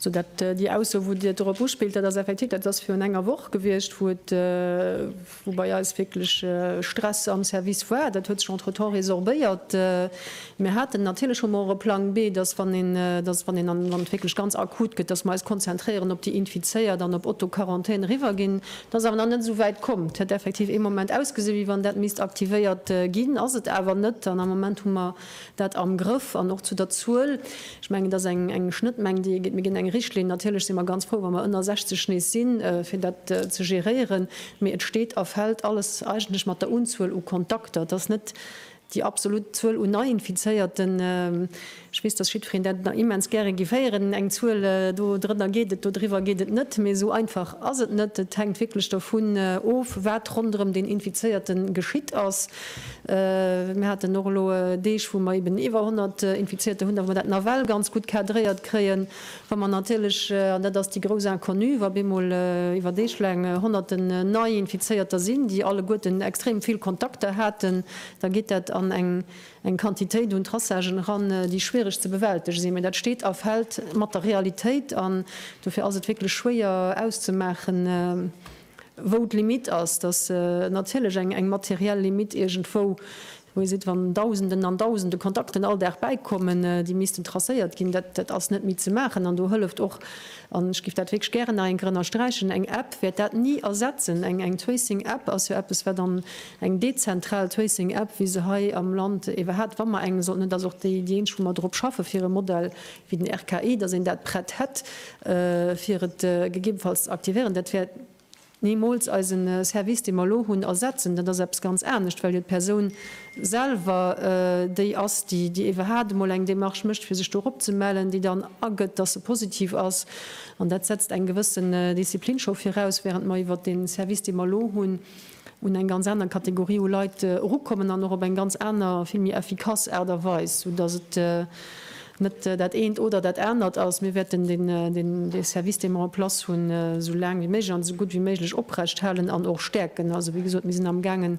Sou dat déi Ausso, wou Dir dorop uspillt, dat ass effektiv, dat ass virun enger Woch gewiescht, wou et, wou bei eis wierklech Stress am Service war. Dat huet sech entretemps résorbéiert. Mir haten natierlech, hu mer och e Plang B, dass, wann een, dass, wann een, wann et wierklech ganz akut gëtt, dass mer eis konzentréieren op déi Infizéiert an op Auto-Quarantän eriwwerginn. Dat ass awer nach net esou wäit komm. Et hätt effektiv ee Moment ausgesinn, wéi wann dat misst aktivéiert ginn, ass et awer net. An am Moment hu mer. Dat am Grëff an och zu der Zuel. Ech mengen, et ass eng Schnëttmeng, déi ee gétt. Mir ginn eng Richtlinn. Natierlech si mer ganz frou, wa mer ënner 60 nees sinn, fir dat ze geréieren. Mee et steet a fält alles eigentlech mat der Unzuel u Kontakter. Et ass net déi absolut Zuel u Neiinfizéierten. Ech weess, dass jiddwereen dat nach immens gäre géif héieren, eng Zuel, do drënner geet et, do driwwer geet et net. Mee esou einfach ass et net. Et hänkt wierklech dovun of, wat ronderëm deen Infizéierte geschitt ass. Mir haten och elo Deeg, wou mer eben iwwer 100 Infizierter hunn, da wou mer dat nawell ganz gutt cadréiert kréien. Wa mer natierlech, an dat ass déi grouss Inconnue, wa bemol iwwer Deeg laang Honnerten Neiinfizéierter sinn, déi alleguerten extrem vill Kontakter haten, da geet dat an eng Quantitéit un Traçagen eran, déi schwiereg ze bewältege sinn. Mee dat steet a fält mat der Realitéit an dofir ass et wierklech schwéier auszemaachen, wou d'Limite ass, dass natierlech eng materiell Limite iergendwou, wou ee seet, wann Dausenden an Dausende Kontakten all Dag bäikommen, déi missten tracéiert ginn, dat ass net méi ze maachen. An do hëlleft och, an ech géif dat wierklech gären nach eng Kéier ënnersträichen, eng App wäert dat ni ersetzen. Eng Tracing-App ass jo eppes, wat an, eng dezentral Tracing-App, wéi se hei am Land ewer hat, wa mer eng sollten hunn, dat ass och déi eenzeg, wou mer drop schaffen, fir e Modell wéi den RKI, datt een dat prett hätt, fir et gegebenfalls ze aktivéieren. Dat wäert nimools eise Service, dee mer elo hunn, ersetzen. Dat ass eppes ganz anescht, well jo d'Persoun selwer déi ass, déi iwwerhaat emol eng Démarche mécht, fir sech do erop ze mellen, déi dann agëtt, datt se positiv ass. An dat setzt eng gewëssen Disziplin scho viraus, während mer iwwert dee Service, dee mer elo hunn, un eng ganz aner Kategorie u Leit erukommen an och op eng ganz aner, vill méi effikass Aart a Weis, soudass et net dat eent oder dat anert ass. Mir wäerten dee Service, dee mer en place hunn, esou laang wéi méiglech an esou gutt wéi méiglech oprechthalen an och stäerken. Also, wéi gesot, mir sinn amgaangen,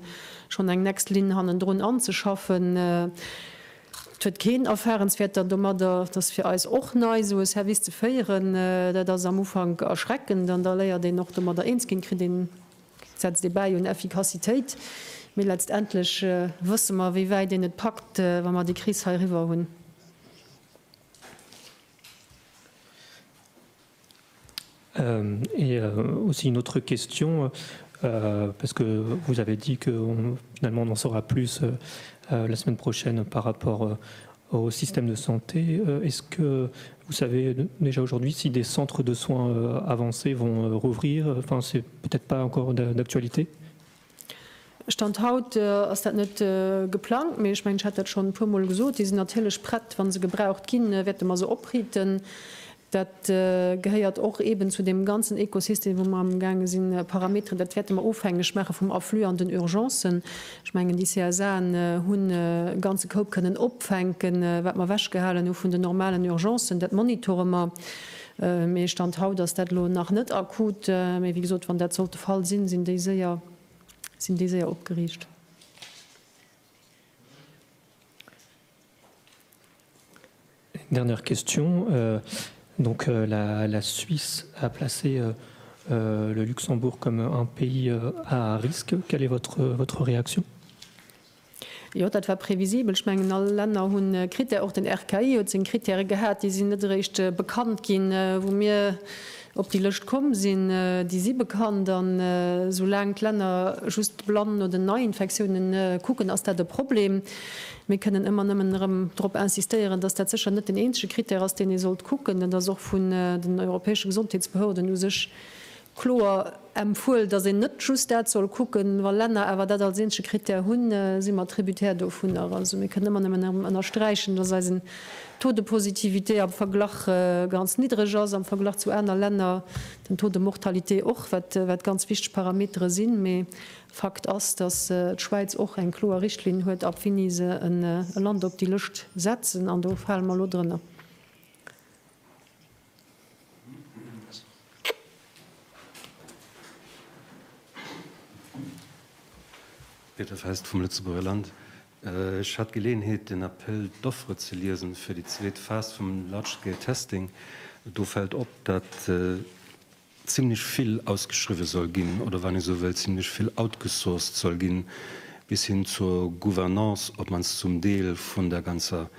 schonn eng nächst Linn hannendrun anzeschaffen. Et huet keen Erfahrenswäerter domadder. Et ass fir eis och nei, esou e Service ze féieren. Dat ass am Ufank erschreckend an da léiert een och domadder eens ginn, kritt een. Setzt ee bäi un Effikassitéit, mee letztendlech wësse mer, wéi wäit een et packt, wa mer déi Kris hei eriwwer hunn. Et aussi une autre question, parce que vous avez dit que finalement on en saura plus la semaine prochaine par rapport Au système de santé, est-ce que vous savez déjà aujourd'hui si des centres de soins avancés vont rouvrir? Enfin, c'est peut-être pas encore d'actualité. Stand haut ass dat net geplangt, mee ech mengen, ech hat dat schonn e puermol gesot, déi sinn natierlech prett, wa se gebraucht ginn, wäerte mer se opriiten. Dat gehéiert och eeben zu deem ganzen Ekosystem, wou mer am gaange sinn, Parameteren, dat wäerte mer ofhängeg maache vum Afflux an den Urgencen. Ech mengen, déi CSAen hunn e ganze Koup kënnen opfänken, wat mer ewechgehalen hu vun den normalen Urgencen. Dat monitore mer, mee Stand haut ass dat elo nach net akut. Mee wéi gesot, wann dat sollt de Fall sinn, sinn déi séier, sinn déi séier opgeriicht. Dernière question, donc la Suisse a placé le Luxembourg comme un pays à risque, quelle est votre réaction? Jo, dat war previsibel. Ech mengen, all Länner hunn Critère, och den RKI huet seng Critèren gehat. Déi sinn net eréischt bekannt ginn, wou mir Op déi Lëscht komm sinn, déi si bekannt. A soulaang d'Länner just blann no den Neiinfektiounen kucken, ass dat e Problem. Mir kënnen ëmmer nëmmen erëm drop insistéieren, dass dat sécher net den eenzege Krittär ass, deen ee sollt kucken. Dat ass och vun den europäesche Gesondheetsbehörden u sech kloer. Empfuel, datt een net just dat soll kucken, wa Länner awer dat als eenzege Krittär hunn, si mer tributaire dovunner. Also mir kënnen ëmmer nëmmen erëm ënnersträichen, datt eisen Taux de positivité am Verglach ganz niddreg ass am Verglach zu aner Länner, den Taux de mortalité och, wat ganz wichteg Parametere sinn. Mee Fakt ass, datt d'Schwäiz och eng kloer Richtlinn huet, ab wéini se e Land op déi Lëscht setzen, an do fale mer elo drënner. Peter Fest vum Lëtzebuerger Land. Ech hat d'Geleeënheet den Appel d'offres ze liesen fir déi zweet Phas vum Large Scale Testing. Do fält op, datt zimlech vill ausgeschriwwe soll ginn oder, wann ee sou wëll, zimlech vill outgesourced soll ginn, bis hin zur Gouvernance, op d'mannst zum Deel vun der ganzer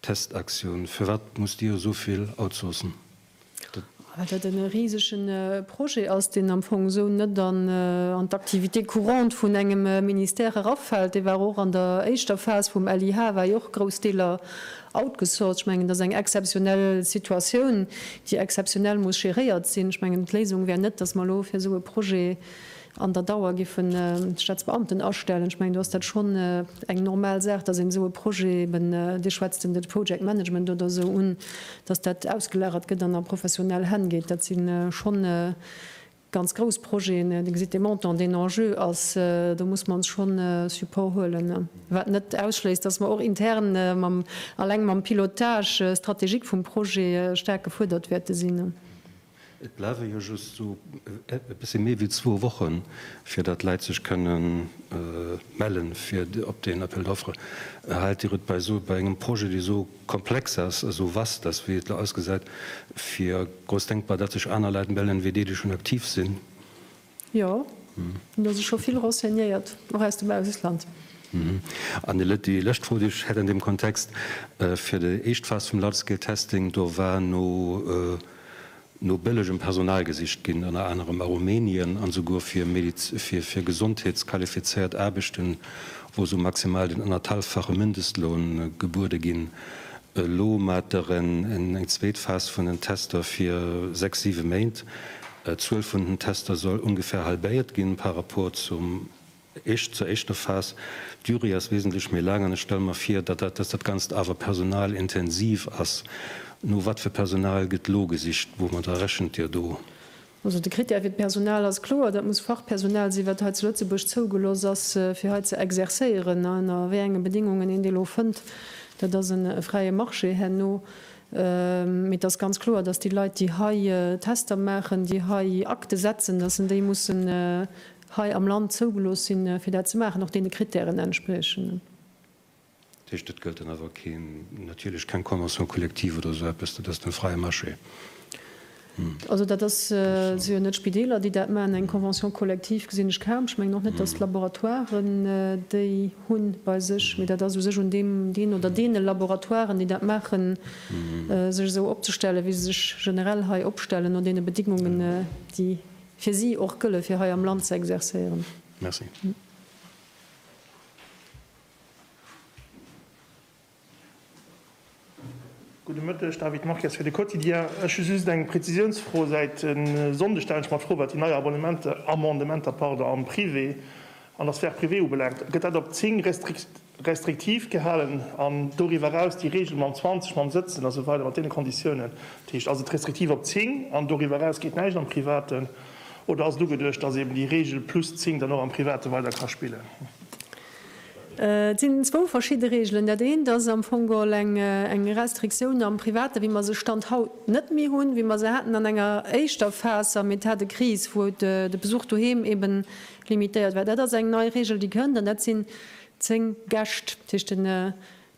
Testaktioun. Firwat musst Dir esou vill outsourcen? Dat. Well dat e risege Projet ass, deen am Fong esou net an d'Activité courante vun engem Ministère erafält. Dee war och an der éischter Phas vum LIH, war jo och grouss Deeler Outgesourced, ech mengen, dat ass eng exzeptionell Situatioun, déi exzeptionell muss géréiert sinn. Ech mengen, d'Léisung wär net, datt mer elo fir esou e Projet an der Dauer géifen d'Staatsbeamten astellen. Ech mengen, do ass dat schonn eng normal Saach, datt een esou e Projet eben, Dir schwätzt den Project Management oder esou un, datt dat ausgelagert gëtt an a professionell Hänn geet. Dat si schonn Ganz grouss Projeten, Dir gesitt de Montant, den Enjeu ass, do muss mer ons schonn Support huelen. Wat net ausschléisst, dass mer och intern mam, alleng mam Pilotage stratégique vum Projet staark gefuerdert wäerte sinn. Et bleiwe jo just esou e bësse méi wéi zwou Wochen, fir datt Leit sech kënne melle fir op deen Appel d'offres. Haalt Dir et bei esou, bei engem Projet, dee esou Komplex ass, esou vast ass, wéi et elo ausgesäit, fir grouss denkbar, datt sech aner Leit mellen, wéi déi, déi schonn aktiv sinn. Jo, et hu sech scho vill renseignéiert, och aus dem Ausland. An elo déi lëscht Fro, déi ech hätt an deem Kontext, Fir déi éischt Phas vum Large-Scale-Testing, do war no no bëllegem Personal gesicht ginn, ënner anerem a Rumänien, an esouguer fir fir gesondheetsqualifizéiert Aarbechten, wou esou maximal den ënnerthalffache Mindestloun gebuede ginn. Elo mat der en eng zweet Phas vun den Tester fir sechs, siwe Méint. D'Zuel vun den Tester soll ongefähr halbéiert ginn par rapport zum Éischt zur éischter Phas, D'Durée ass wesentlech méi laang an ech stelle mer vir, datt dat, datt dat Ganzt awer personalintensiv ass. No wat fir Personal gëtt elo gesicht? Woumadder rechent Dir do? Also de Krittär fir d'Personal ass kloer, dat muss Fachpersonal sinn, wat hei zu Lëtzebuerg zougelooss ass, fir hei ze exerzéieren. A ënner wéi enge Bedéngungen een déi elo fënnt, dat ass e fräie Marché herno. Mee et ass ganz kloer, datt déi Leit, déi hei Tester maachen, déi hei Akte setzen, datt en déi mussen hei am Land zougelooss sinn, fir dat ze maachen, och deene Krittären entspriechen. Dat heescht, et gëllt dann awer keen, natierlech keng Convention collective oder esou eppes, dat ass den fräie Marché. Also dat ass, et si jo net d'Spideeler, déi dat maachen. Eng Convention collective gesinn ech kaum. Ech mengen och net, datt d'Laboratoiren déi hu bei sech. Mee dat ass u sech un deem, deen oder deene Laboratoiren, déi dat maachen, sech esou opzestellen, wéi se sech generell hei opstellen, no deene Bedingungen, déi Fir si och gëlle fir hei am Land ze exercéieren. Merci. Gudde Mëtteg, David Marques fir de Quotidien. Ech hu just eng Prezisiounsfro. Säit e Sonndeg stellen ech mer d'Fro, wat déi nei Abonnementer, Amendementer, pardon, am Privé, an der Sphère privée ubelaangt. Gëtt dat op 10 Restrikt, restriktiv gehalen an doriwwer eraus déi Regel mam 20, mam Sëtzen a sou weider mat deene Konditiounen, dat heescht, ass et restriktiv op 10 an doriwwer eraus geet näischt am Privaten oder ass et ugeduecht, datt eeben déi Regel plus 10 dann och am Private weider ka spillen? Et sinn zwou verschidde Regelen. Dat eent ass am Fong all eng Restriktioun am Private wéi mer se Stand haut net méi hunn, wéi mer se haten an enger éischter Phas am Etat de crise, wou de Besuch doheem eeben limitéiert war. Dat ass eng nei Regel, déi kënnt an dat sinn, Zéng Gäscht, dat heescht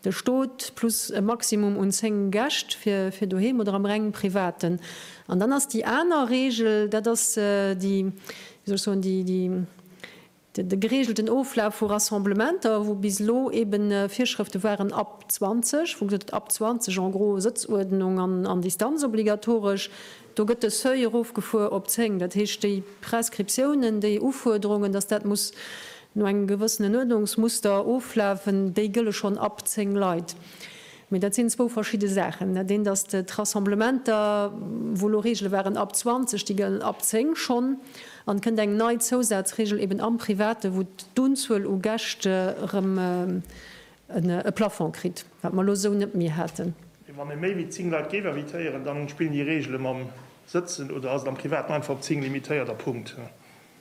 de Stot plus e Maximum un zéng Gäscht fir doheem oder am reng privaten. An dann ass déi aner Reegel, dat ass déi, wéi soll ech soen, déi, de gereegelten Oflaf vu Rassemblementer, wou bis elo eebe Virschrëfte waren ab 20, wou gesot gëtt, ab 20 en gros Sëtzuerdnung an Distanz obligatoresch. Do gëtt de Seuil erofgefuer op 10. Dat heescht, déi Prescriptiounen, déi Ufuerderungen, datt dat muss no engem gewëssenen Uerdnungsmuster oflafen, déi gëlle schonn ab 10 Leit. Mee dat sinn zwou verschidde Saachen. Dat eent ass d'Rassemblementer, wou elo Reegele waren ab 20, déi gëllen ab 10 schonn. An et kënnt eng nei Zousazreegel eben am Private, wou d'Unzuel u Gäscht erëm e Plafond kritt, wat mer elo esou net méi haten. Wann ee méi wéi 10 Leit géif invitéieren, da spillen déi Reegele mam Sëtzen oder ass et am Privaten einfach op 10 limitéiert a Punkt?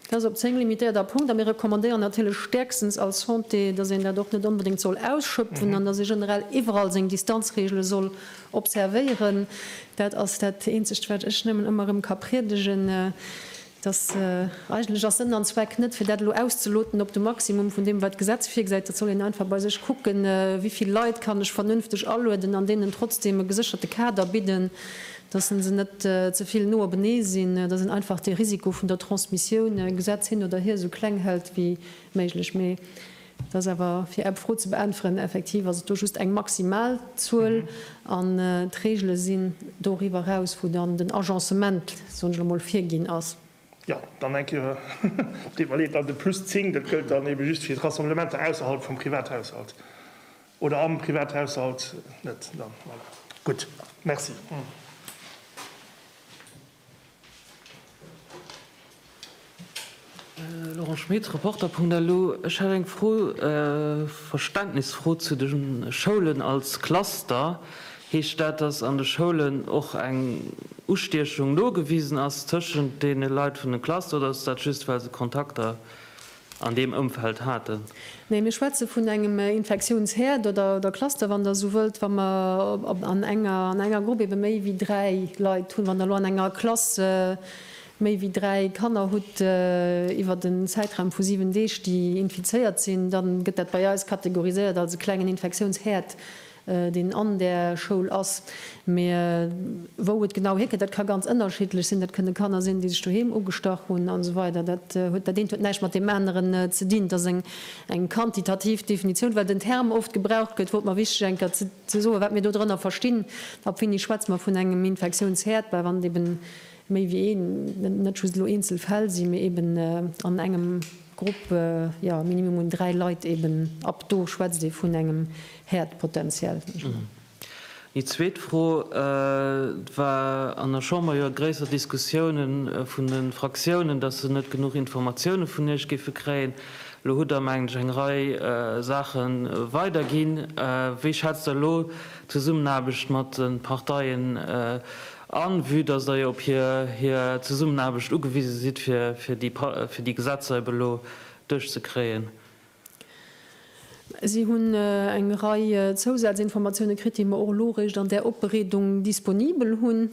Dat ass op 10 limitéiert a Punkt. A mir recommandéieren natierlech stäerkstens als Santé, datt een dat och net onbedéngt soll ausschöpfen an datt ee generell iwwerall seng Distanzreegele soll observéieren. Dat ass dat eenzegt, wat ech nëmmen ëmmer erëm ka priedegen. dass eigentlech ass Sënn an Zweck net, fir dat elo auszeloten op de Maximum vun deem, wat d'Gesetz virgesäit. Dat soll een einfach bei sech kucken, wéi vill Leit kann ech vernünfteg alueden an deenen trotzdeem e gesécherte Kader bidden, dass se se net ze vill no openee sinn, dass een einfach de Risiko vun der Transmissioun, Gesetz hin oder hier, esou kleng hält wéi méiglech. Et ass awer, fir Är Fro ze beäntweren, effektiv ass et do just eng maximal Zuel an d'Regele sinn doriwwer eraus, wou dann den Agencement, soen ech elo mol, virginn ass. Jo, dann eng Kéier, et deet mer leed, dann de plus zéng, dat gëllt dann ebe just fir d'Rassemblementer ausserhalb vum Privathaushalt oder am Privathaushalt net. Dann, voilà. Gutt, merci. Laurent Schmit, Reporter.lu, Ech hätt eng Fro, Verständnisfro zu de Schoulen als Cluster. Heescht dat, datt an de Schoulen och eng Ustiechung nogewisen ass tëschent deene Leit vun de Cluster oder ass dat just well se Kontakter an deem Ëmfeld haten. Nee, mir schwätze vun engem Infektiounshäerd oder Cluster, wann Der esou wëllt, wa mer an enger Grupp ebe méi wéi dräi Leit hunn. Wann Der elo an enger Klass méi wéi dräi Kanner hutt iwwert en Zäitraum vu siwen Deeg, déi infizéiert sinn, da gëtt dat bei eis kategoriséiert als e klengen Infektiounshäerd. deen an där Schoul ass, mee wou et genau hierkënnt, dat ka ganz ënnerschiddlech sinn. Dat kënne Kanner sinn, déi sech doheem ugestach hunn an esou weider. Dat huet, dat eent huet näischt mat deem aneren ze dinn. Et ass eng, eng quantitativ Definitioun, well den Term oft gebraucht gëtt, wor et mer wichteg eng Kéier ze, ze soen, wat mir do drënner verstinn. Ab wéini schwätze mer vun engem Infektiounsherd, well wann et eeben méi wéi een, net just elo eenzel Fäll si, mee eeben an engem, Grupp, jo, minimum un dräi Leit eben, ab do schwätzt ee vun engem Häerdpotential, mengen ech mol. Déi zweet Fro, et war an der Chamber jo gréisser Diskussioune vun de Fraktiounen, datt se net genuch Informatioune vun Iech géife kréien. Elo hutt Der, mengen ech, eng Rei Saache weiderginn. Wéi schätzt Der elo d'Zesummenaarbecht mat de Parteien A vue dass Der jo op hir Zesummenaarbecht ugewise sidd, fir déi Gesetzer ebe lo duerchzekréien. Si hunn eng Rei Zousaz-Informatioune kritt, déi mer och elo eréischt an där Opbereedung disponibel hunn.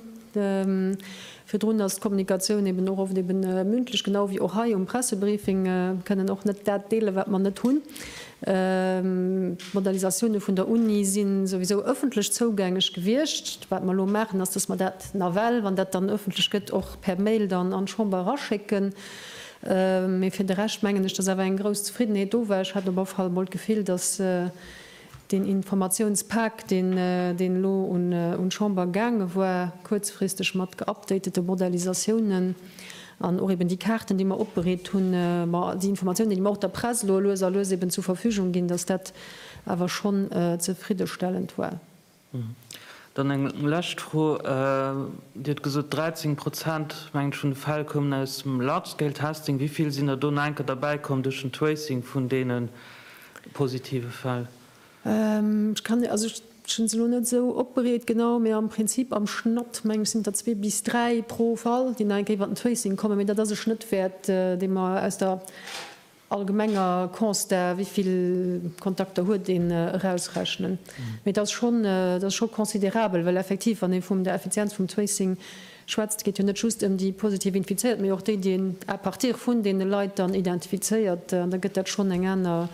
Virdrun ass d'Kommunikatioun eben och oft eben mündlech, genau wéi och hei um Pressebriefing, kënnen och net dat deelen, wat mer net hunn. D'Modalisatioune vun der Uni si souwisou ëffentlech zougängeg gewiescht. Wat mer elo maachen, ass, datt mer dat nawell, wann dat dann ëffentlech gëtt, och per Mail dann an d'Chamber eraschécken. Mee fir de Rescht mengen ech, datt awer eng grouss Zefriddenheet do war. Ech hat op alle Fall emol d'Gefill, datt deen Informatiounspak, deen elo un d'Chamber gaange war, kuerzfristeg mat geupdatete Modalisatiounen, An och eben déi Kaarten, déi mer opbereet hunn, ma déi Informatiounen, déi mer och der Press elo lues a lues eben zur Verfügung ginn, dass dat awer schonn zefriddestellend war. Dann eng lescht Fro. Dir hutt gesot, 13 Prozent, mengen ech, vun de Fäll koumen aus dem Large-Scale-Testing. Wéi vill sinn der do no enker derbäikomm duerch den Tracing vun deene positive Fäll? Ech kann, also ech hunn se elo net esou opbereet genau, mee am Prinzip am Schnatt meng ech sinn der zwee bis dräi pro Fall, déi nach eng Kéier iwwer den Tracing kommen. Mee dat ass e Schnëttwäert, dee mer aus der allgemenger Constat, wéivill Kontakter huet een, erausrechnen. Mee et ass schonn, et ass scho considerabel, well effektiv, wann ee vum der Effizienz vum Tracing schwätzt, geet jo net just ëm déi positiv Infizéiert, mee och déi, déi een à partir vun deene Leit dann identifizéiert. An da gëtt dat schonn eng aner,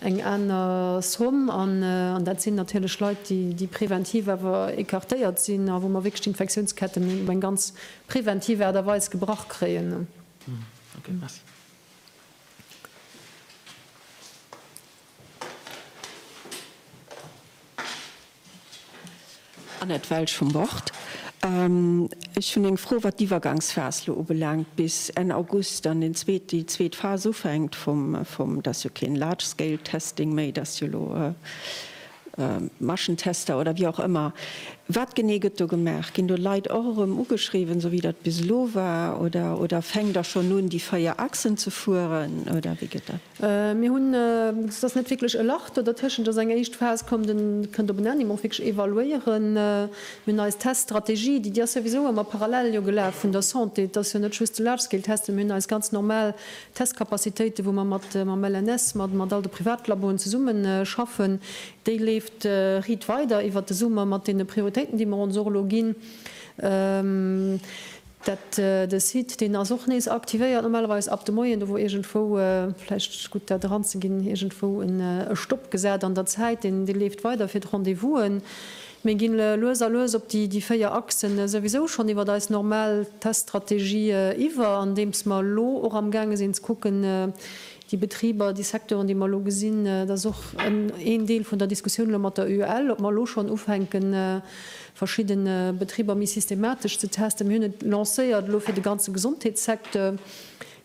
eng aner Somm. An dat sinn natierlech Leit, déi preventiv awer écartéiert sinn a wou mer wierklech d'Infektiounsketten op eng ganz preventiv Aart a Weis gebrach kréien. Annette Welsch vum Wort. Ech hunn eng Fro, wat d'Iwwergangsphas elo ubelaangt, bis Enn August dann deen zweet, déi zweet Phas ufänkt vum, vum, dat ass jo keen large scale testing méi, dat ass jo elo Maschentester oder wéi och ëmmer. Wat genee gëtt do gemaach? Ginn do Leit och erëm ugeschriwwen, esou wéi dat bis elo war, oder, oder fänkt Der schonn un, déi véier Achsen ze fueren, oder wéi gëtt dat? Mir hunn, et ass net wierklech e Lach do dertëschent, et ass eng éischt Phas, kommt en, kënnt op en Enn, déi mer och wierklech evaluéieren. Mir hunn eis Teststrategie, déi, déi ass souwisou ëmmer parallel jo gelaf vun der Santé. Et ass jo net just de Large Scale Test, mee mir hunn eis ganz normal Testcapacitéiten, wou mer mat, mam LNS, mat, mat all de Privatlaboen zesummenschaffen. Déi leeft riit weider iwwert de Summer mat deene Prioritéiten, déi mer ons och elo ginn. Dat de Site deen ass och nees aktivéiert normalerweis ab de Moien. Do wor iergendwou, vläicht gutt dat eran ze ginn, iergendwou e Stopp gesat an der Zäit. Deen dee leeft weider fir d'Rendez-vousen. Mir ginn lues a lues op déi déi véier Achsen souwisou schonn iwwert eis normal Teststrategie iwwer, andeems mer elo och am gaange sinn ze kucken déi Betriber, déi Secteuren déi mer elo gesinn. Dat ass och en Deel vun der Diskussioun elo mat der UEL, ob mer elo schonn ufänken verschidden Betriber méi systematesch ze testen. Mir hunn et lancéiert elo fir de ganze Gesondheetssecteur.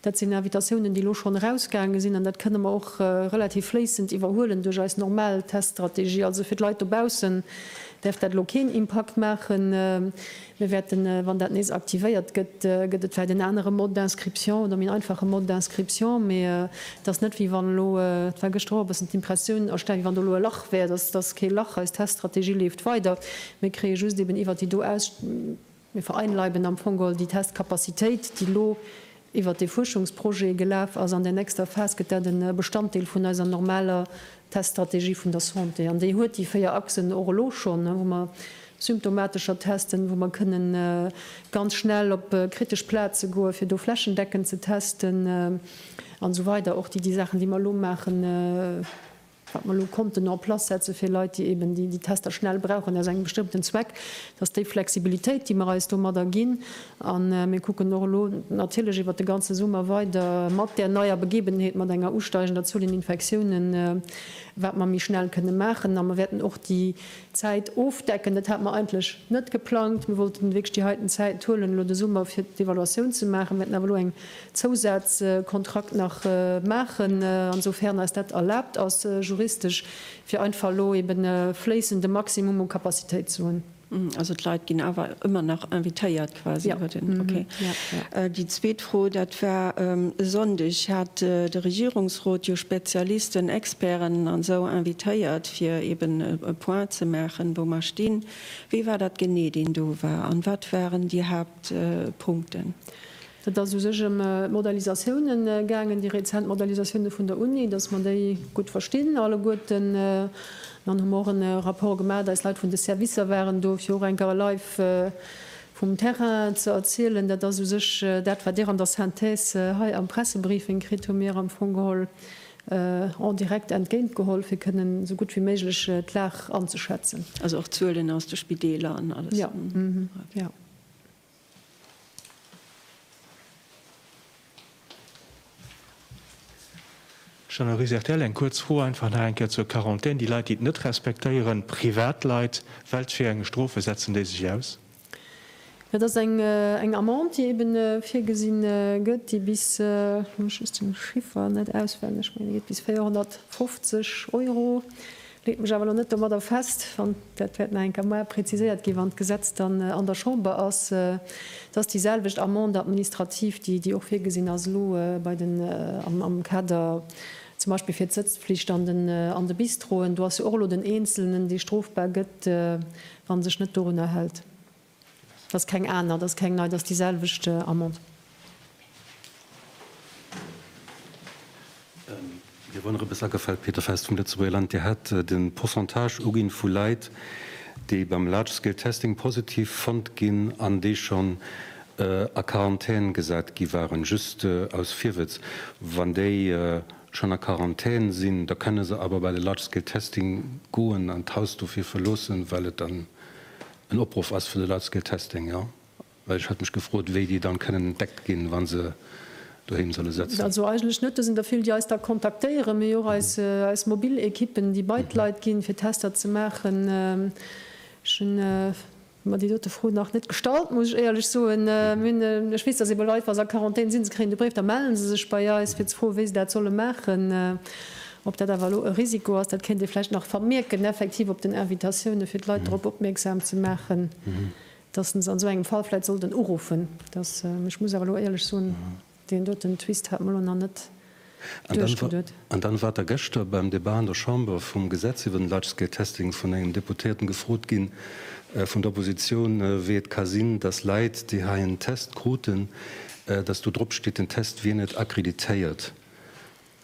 Dat sinn Invitatiounen, déi elo schonn erausgaange sinn, an dat kënne mer och relativ fléissend iwwerhuelen duerch eis normal Teststrategie. Also fir d'Leit dobaussen däerf dat elo keen Impakt maachen. Mir wäerten, wann dat nees aktivéiert gëtt, gëtt et vläicht en anere Mode d'inscription oder méi en einfache Mode d'inscription, mee Et ass net, wéi wann elo, et war gëschter och e bëssen d'Impressioun erstellen, wéi wann do elo e Lach wär. Dass ass kee Lach. Eis Teststrategie leeft weider. Mir kréie just eben iwwert déi do aus, mir vereinleiben am Fong geholl déi Testcapacitéit, déi elo iwwert dee Fuerschungsprojet gelaf ass. An där nächster Phas gëtt dat e Bestanddeel vun eiser normaler Teststrategie vun der Santé. An déi huet déi véier Achsen och elo schonn, wou mer, symptomatescher testen, wou mer kënne ganz schnell op kritesch Plaze goen, fir do flächendeckend ze testen an esou weider, och déi Saachen, déi mer elo maachen, wat mer elo konnten en place setze fir Leit, déi eeben déi Tester schnell brauchen aus engem bestëmmten Zweck, dat ass déi Flexibilitéit, déi mer eis domadder ginn. A mir kucken och elo natierlech iwwert de ganze Summer weider mat där neier Begebenheet, mat enger usteigender Zuel un Infektiounen, wat mer méi schnell kënne maachen. A mer wäerten och déi. Zäit ofdecken. Dat hate mer eigentlech net geplangt. Mir wollten wierklech déi heiten Zäiten huelen elo de Summer fir d'Evaluatioun ze maachen. Mir wäerten awer elo eng Zousazkontrakt nach maachen, ansoufern eis dat erlaabt ass juristesch, fir einfach elo eben e fléissende Maximum u Capacitéit ze hunn. Also d'Leit ginn awer ëmmer nach invitéiert, quasi iwwer den, okay. Déi zweet Fro, dat war e Sonndeg hat de Regierungsrot jo Spezialisten, Experten an esou invitéiert, fir eben e Point ze maachen, wou mer stinn. Wie war dat genee, deen do war an wat waren déi Haaptpunkten? Et ass u sech ëm d'Modalisatioune gaangen, déi rezent Modalisatioune vun der Uni, dass mer déi gutt verstinn alleguerten. An hu mer och e Rapport gemat, eis Leit vun de Servicer waren do, fir och eng Kéier live, Vum Terrain ze erzielen, dat ass u sech dat, wat Dir an der Synthèse hei am Pressebriefing kritt, hu mir am Fong geholl en direct entgéint geholl, fir kënnen esou gutt wéi méiglech d'Lag anzeschätzen. Also och Zuelen aus de Spideeler an alles? Jo. Jean-Marie Sertell, Eng kuerz Fro einfach nach eng Kéier zur Quarantän. Déi Leit, déi et net respektéieren, Privatleit, welch fir eng Strofe setzen déi sech aus? Dat ass eng Amende, déi ebe virgesinn gëtt, déi bis, elo hu ech just de Chiffer net auswenneg, mee déi geet bis 450 Euro. Leet mech awer elo net domadder fest, wann, dat wäert nach eng Kemoar preziséiert ginn, wann d'Gesetz dann an der Chamber ass, dass déi selwecht Amende administrative, déi, déi och virgesinn ass elo bei den, am, am Kader zum Beispill fir d'Sëtzpflicht an den, an de Bistroen, do ass jo och elo den Eenzelnen, dee strofbar gëtt, wa sech net dorunner hält. Dat ass keng aner, dat ass keng nei, dat ass déi selwecht Amende. Mir woren e bësse agefélt, Peter Fest vum Lëtzebuerger Land. Dir hat de Pourcentage uginn vu Leit, déi beim Large Scale Testing positiv fonnt ginn an déi schonn a Quarantän gesat gi waren. Just aus Virwëtz, Wann déi schonn a Quarantän sinn, da kënne se awer bei de Large Scale Testing goen an d'Haus dofir verloossen, well et dann en Opruff ass vun de Large Scale Testing, jo, well ech hat mech gefrot, wéi déi dann kënnen entdeckt ginn, wa se doheem solle sëtzen. Also eigentlech net dësen der vill, déi eis da kontaktéieren, mee och eis mobil Equippen, déi bei d'Leit ginn, fir Tester ze maachen. Ech hu mer déi dote Fro nach net gestallt, muss ech éierlech soen. Ech weess, dass eebe Leit, wa se a Quarantän sinn, se kréien de Bréif, da mellen se sech bei eis, fir ze froen, wéi se dat solle maachen. Ob dat awer elo e Risiko ass, dat kéint ee vläicht nach vermierken, effektiv op den Invitatioune fir d'Leit drop opmierksam ze maachen, datt se se an esou engem Fall vläicht sollten uruffen. Datt, ech muss awer elo éierlech soen, deen doten Twist hat mer elo nach net duerchgeduet. An dann war Der gëschter beim Debat an der Chamber vum Gesetz iwwer den Large-Scale-Testing vun engem Deputéierten gefrot ginn, vun der Oppositioun, wéi et ka sinn, datt Leit, déi hei en Test kruten, datt do dropsteet, den Test wier net accréditéiert.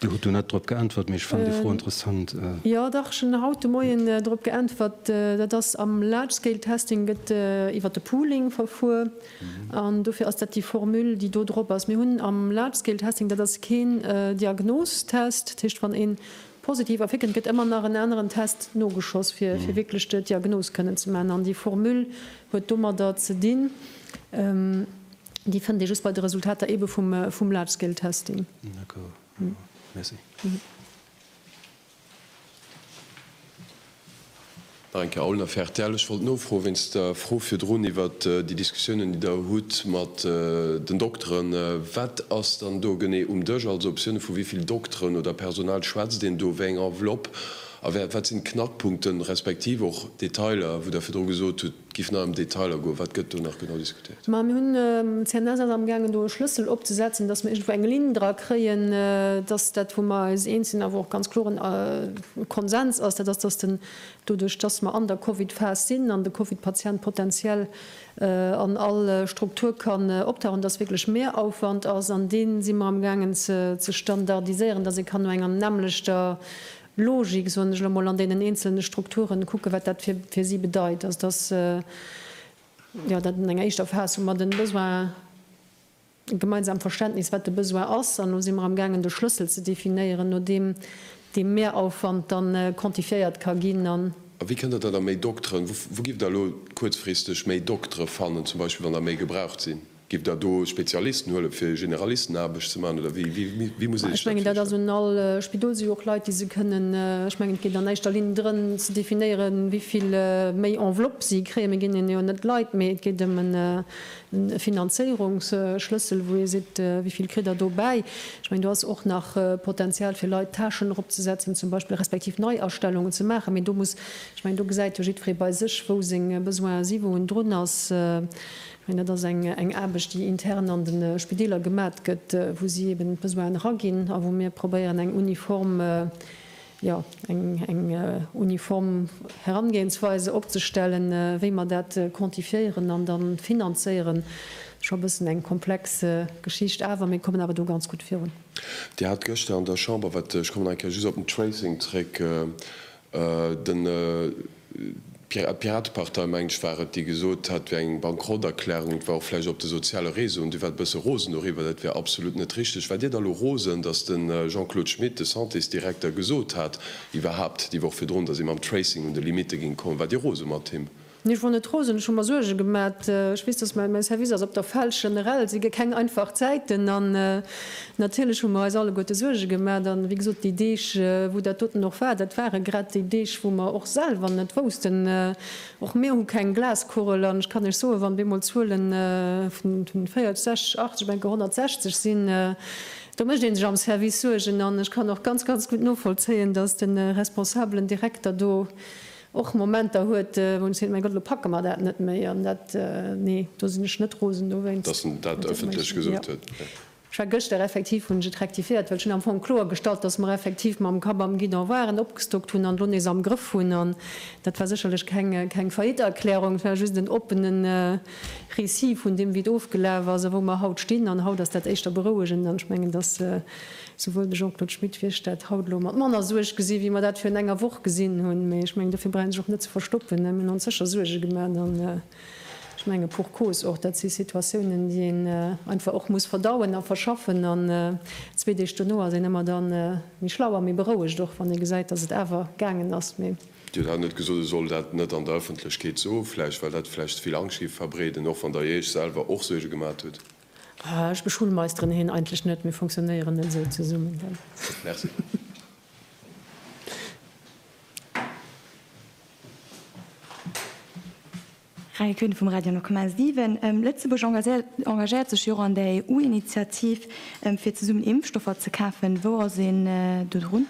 Dir hutt do net drop geäntwert, mee ech fannen déi Fro interessant. Jo dach, ech hunn haut de Moien drop geäntwert. Dat ass am Large Scale Testing gëtt iwwer de Pooling verfuer an dofir ass dat déi Formule, déi do drop ass. Mir hunn am Large Scale Testing, dat ass keen Diagnostest, dat heescht wann ee positiv ervir kënnt, gëtt ëmmer nach en aneren Test nogeschoss, fir wierklech d'Diagnos kënnen ze maachen an déi Formule huet domadder ze dinn. Déi fënnt ee just bei de Resultater ebe vum Large Scale Testing. D'accord. Merci. Nach eng Kéier Aulner für rtl. Ech wollt nofroen, wéinst der Fro virdrun iwwer déi Diskussiounen, déi Der hutt mat den Dokteren, Wat ass dann do genee um Dësch? Also op Sione vu wéi vill Dokteren oder Personal schwätzt een do? Wéi eng Enveloppe? A wat sinn d'Knackpunkten, respektiv och Detailer, wou Der virdru gesot hutt, Giff nach em Detailer goen, wat gëtt do nach genau diskutéiert? Ma mir hunn, CNS ass amgaangen do e Schlëssel opzesetzen, dass mer iergendwou eng Linn dra kréien, dass dat wou mer eis eens sinn awer och ganz kloren Konsens ass, dat ass, dass den, doduerch dass mer an der Covid-Phas sinn an de Covid-Patient potenziell an all Struktur kann optauchen, dass wierklech Mehrauwand ass an dee si mer amgaangen ze standardiséieren, dass ee kann no enger nämmlechter Logik, soen ech elo mol, an deenen eenzelne Strukturen, kucken, wat dat fir si bedeit, also dass, jo, dat an enger éischter Phas hu mer de Besoin, e gemeinsamt Verständnis, wat de Besoin ass, an elo si mer am gaangen, de Schlëssel ze definéieren, no deem dee Mehraufwand da quantifiéiert ka ginn. An. A wéi kënnt Der da da méi Dokteren? Wou, wou giff Der elo kuerzfristeg méi Doktere fannen, zum Beispill, wann der méi gebraucht sinn? Giff der do Spezialisten huelen fir Generalistenaarbecht ze maachen oder wéi muss ee sech dat virstellen? Ech mengen dat ass un all Spidol, se hu jo och Leit déi se kënnen, ech mengen et geet an éischter Linn drëm ze definéieren wéivill méi Enveloppe si kréien. Mir ginn hinnen jo net Leit, mee et geet ëm e Finanzéierungsschlëssel wou ee seet wéivill kritt der do bäi. Ech mengen do ass och nach Potenzial fir Leit Tâchen erop ze setzen zum Beispill, respektiv Neiastellungen ze maachen, mee do muss, ech mengen do gesäit jo jiddweree bei sech wou seng Besoinen si, wou en drun ass. Dat ass eng Aarbecht, déi intern an de Spideeler gemat gëtt, wou si eben d'Besoinen eraginn a wou mir probéieren, eng uniform, jo, eng uniform Herangehensweis opzestellen, wéi mer dat quantifiéieren an da finanzéieren. Scho e bëssen eng komplex Geschicht, awer mir kommen awer do ganz gutt virun. Dir hat gëschter an der Chamber, wat, ech kommen nach eng Kéier just op den Tracing zréck, D'Piratepartei, mengen ech war et, déi gesot hat, et wär eng Bankrotterklärung. Et war och vläicht op de soziale Réseauen. Dir waart e bësse rosen doriwwer. Dat wär absolut net richteg. Waart Dir da elo rosen, datt de Jean-Claude Schmit, de Santésdirekter, gesot hat, iwwerhaupt déi Woch virdrun, datt ee mam Tracing un de Limitte géing kommen? Waart Dir rose mat him? Nee, schonn net rosen, ech hu mer Suerge gemat. Ech weess, dass mäi Service ass op der Fälsch. Generell si keng einfach Zäiten an natierlech hu mer eis alleguerte Suerge gemat. A wéi gesot, déi Deeg, wou dat doten och war, dat ware grad déi Deeg, wou mer och selwer net woussten. Och mir hu keng Glaskugel an ech kann Iech soen, wann bemol Zuele vun 40, 60, 80, ech menke 160 sinn, do mécht ee sech am Service Suergen. An ech kann och ganz, ganz gutt novollzéien, dass de responsabelen Direkter do, Och Momenter huet, wou en seet, mäi Gott, elo packe mer dat net méi. An dat, nee, do sinn ech net rosen dowéinst. Dass en dat ëffentlech gesot huet, jo. Ech war gëschter, effektiv hunn ech et rektifiéiert, well ech hunn am Fong kloer gestallt, dass mer effektiv mam Kapp am Guidon waren, opgestockt hunn an elo nees am Grëff hunn. An dat war sécherlech keng Faillite-Erklärung, et war just en oppene Récit vun deem, wéi et ofgelaf ass a wou mer haut stinn. An haut ass dat éischter berouegend an ech mengen, dass Souwuel de Jean-Claude Schmit wéi ech dat haut elo mat manner Suerg gesi wéi mer dat virun enger Woch gesinn hunn. Mee ech mengen, dofir brauch een sech och net ze verstoppen. Mir hunn ons sécher Suerge gemaat an ech menge pour cause och. Dat si Situatiounen, déi een einfach och muss verdauen a verschaffen. An zwee Deeg dono ass een ëmmer da méi schlau a méi berouegt och, wann ee gesäit, dass et awer gaangen ass. Mee. Dir hutt haut net gesot, ech soll dat net an der Ëffentlechkeet soen, vläicht well dat vläicht ze vill Angscht géif verbreeden, och wann Der Iech selwer och Suerge gemaat hutt. Ech beschullmeisteren hien eigentlech net. Mir funktionéieren net esou zesummen. Merci. Rae Kuhn vum Radio Nukumäer 7, Lëtzebuerg engagéiert sech jo och an der EU-Initiativ, fir zesummen Impfstoffer ze kafen. Wou ass een do drun?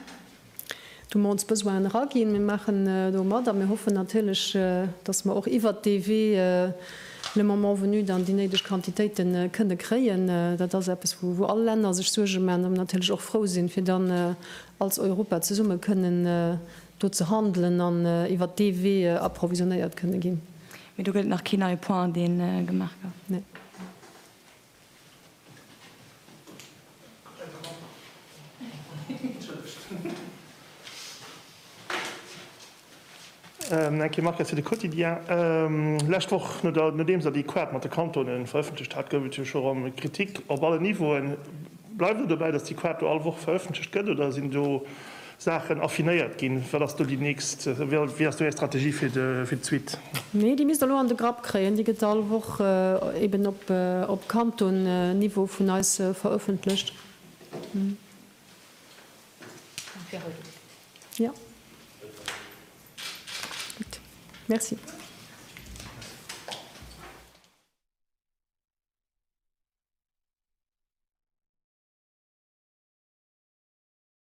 Do mer ons Besoinen eraginn. Mir maachen do mat a mir hoffen natierlech, datt mer och iwwert dee Wee le moment venu dann déi néideg Quantitéite kënne kréien. Dat ass eppes, wou all Länner sech Suerge maachen a mer natierlech och frou sinn, fir dann als Europa zesumme kënnen do ze handelen an iwwert dee Wee approvisionnéiert kënne ginn. Mee do gëtt nach keen neie Point, dee gemaach gouf? Nee. Ähm, eng Kéier Marc fir de Quotidien. Ähm, lescht Woch, no der, nodeems Der déi Quart mat de Kantonen verëffentlecht hat, gouf et jo scho erëm Kritik op allen Niveauen. Bleift Der dobäi, datt déi Quart do all Woch verëffentlecht gëtt, oder sinn do Saachen affinéiert ginn. Wat ass do déi nächst, wéi ass do Är Strategie fir d'Suite? Nee, déi misst Der lo an de Grapp kréien. Déi gëtt all Woch eben op Kanton-Niveau vun eis verëffentlecht. Jo. Gutt. Merci.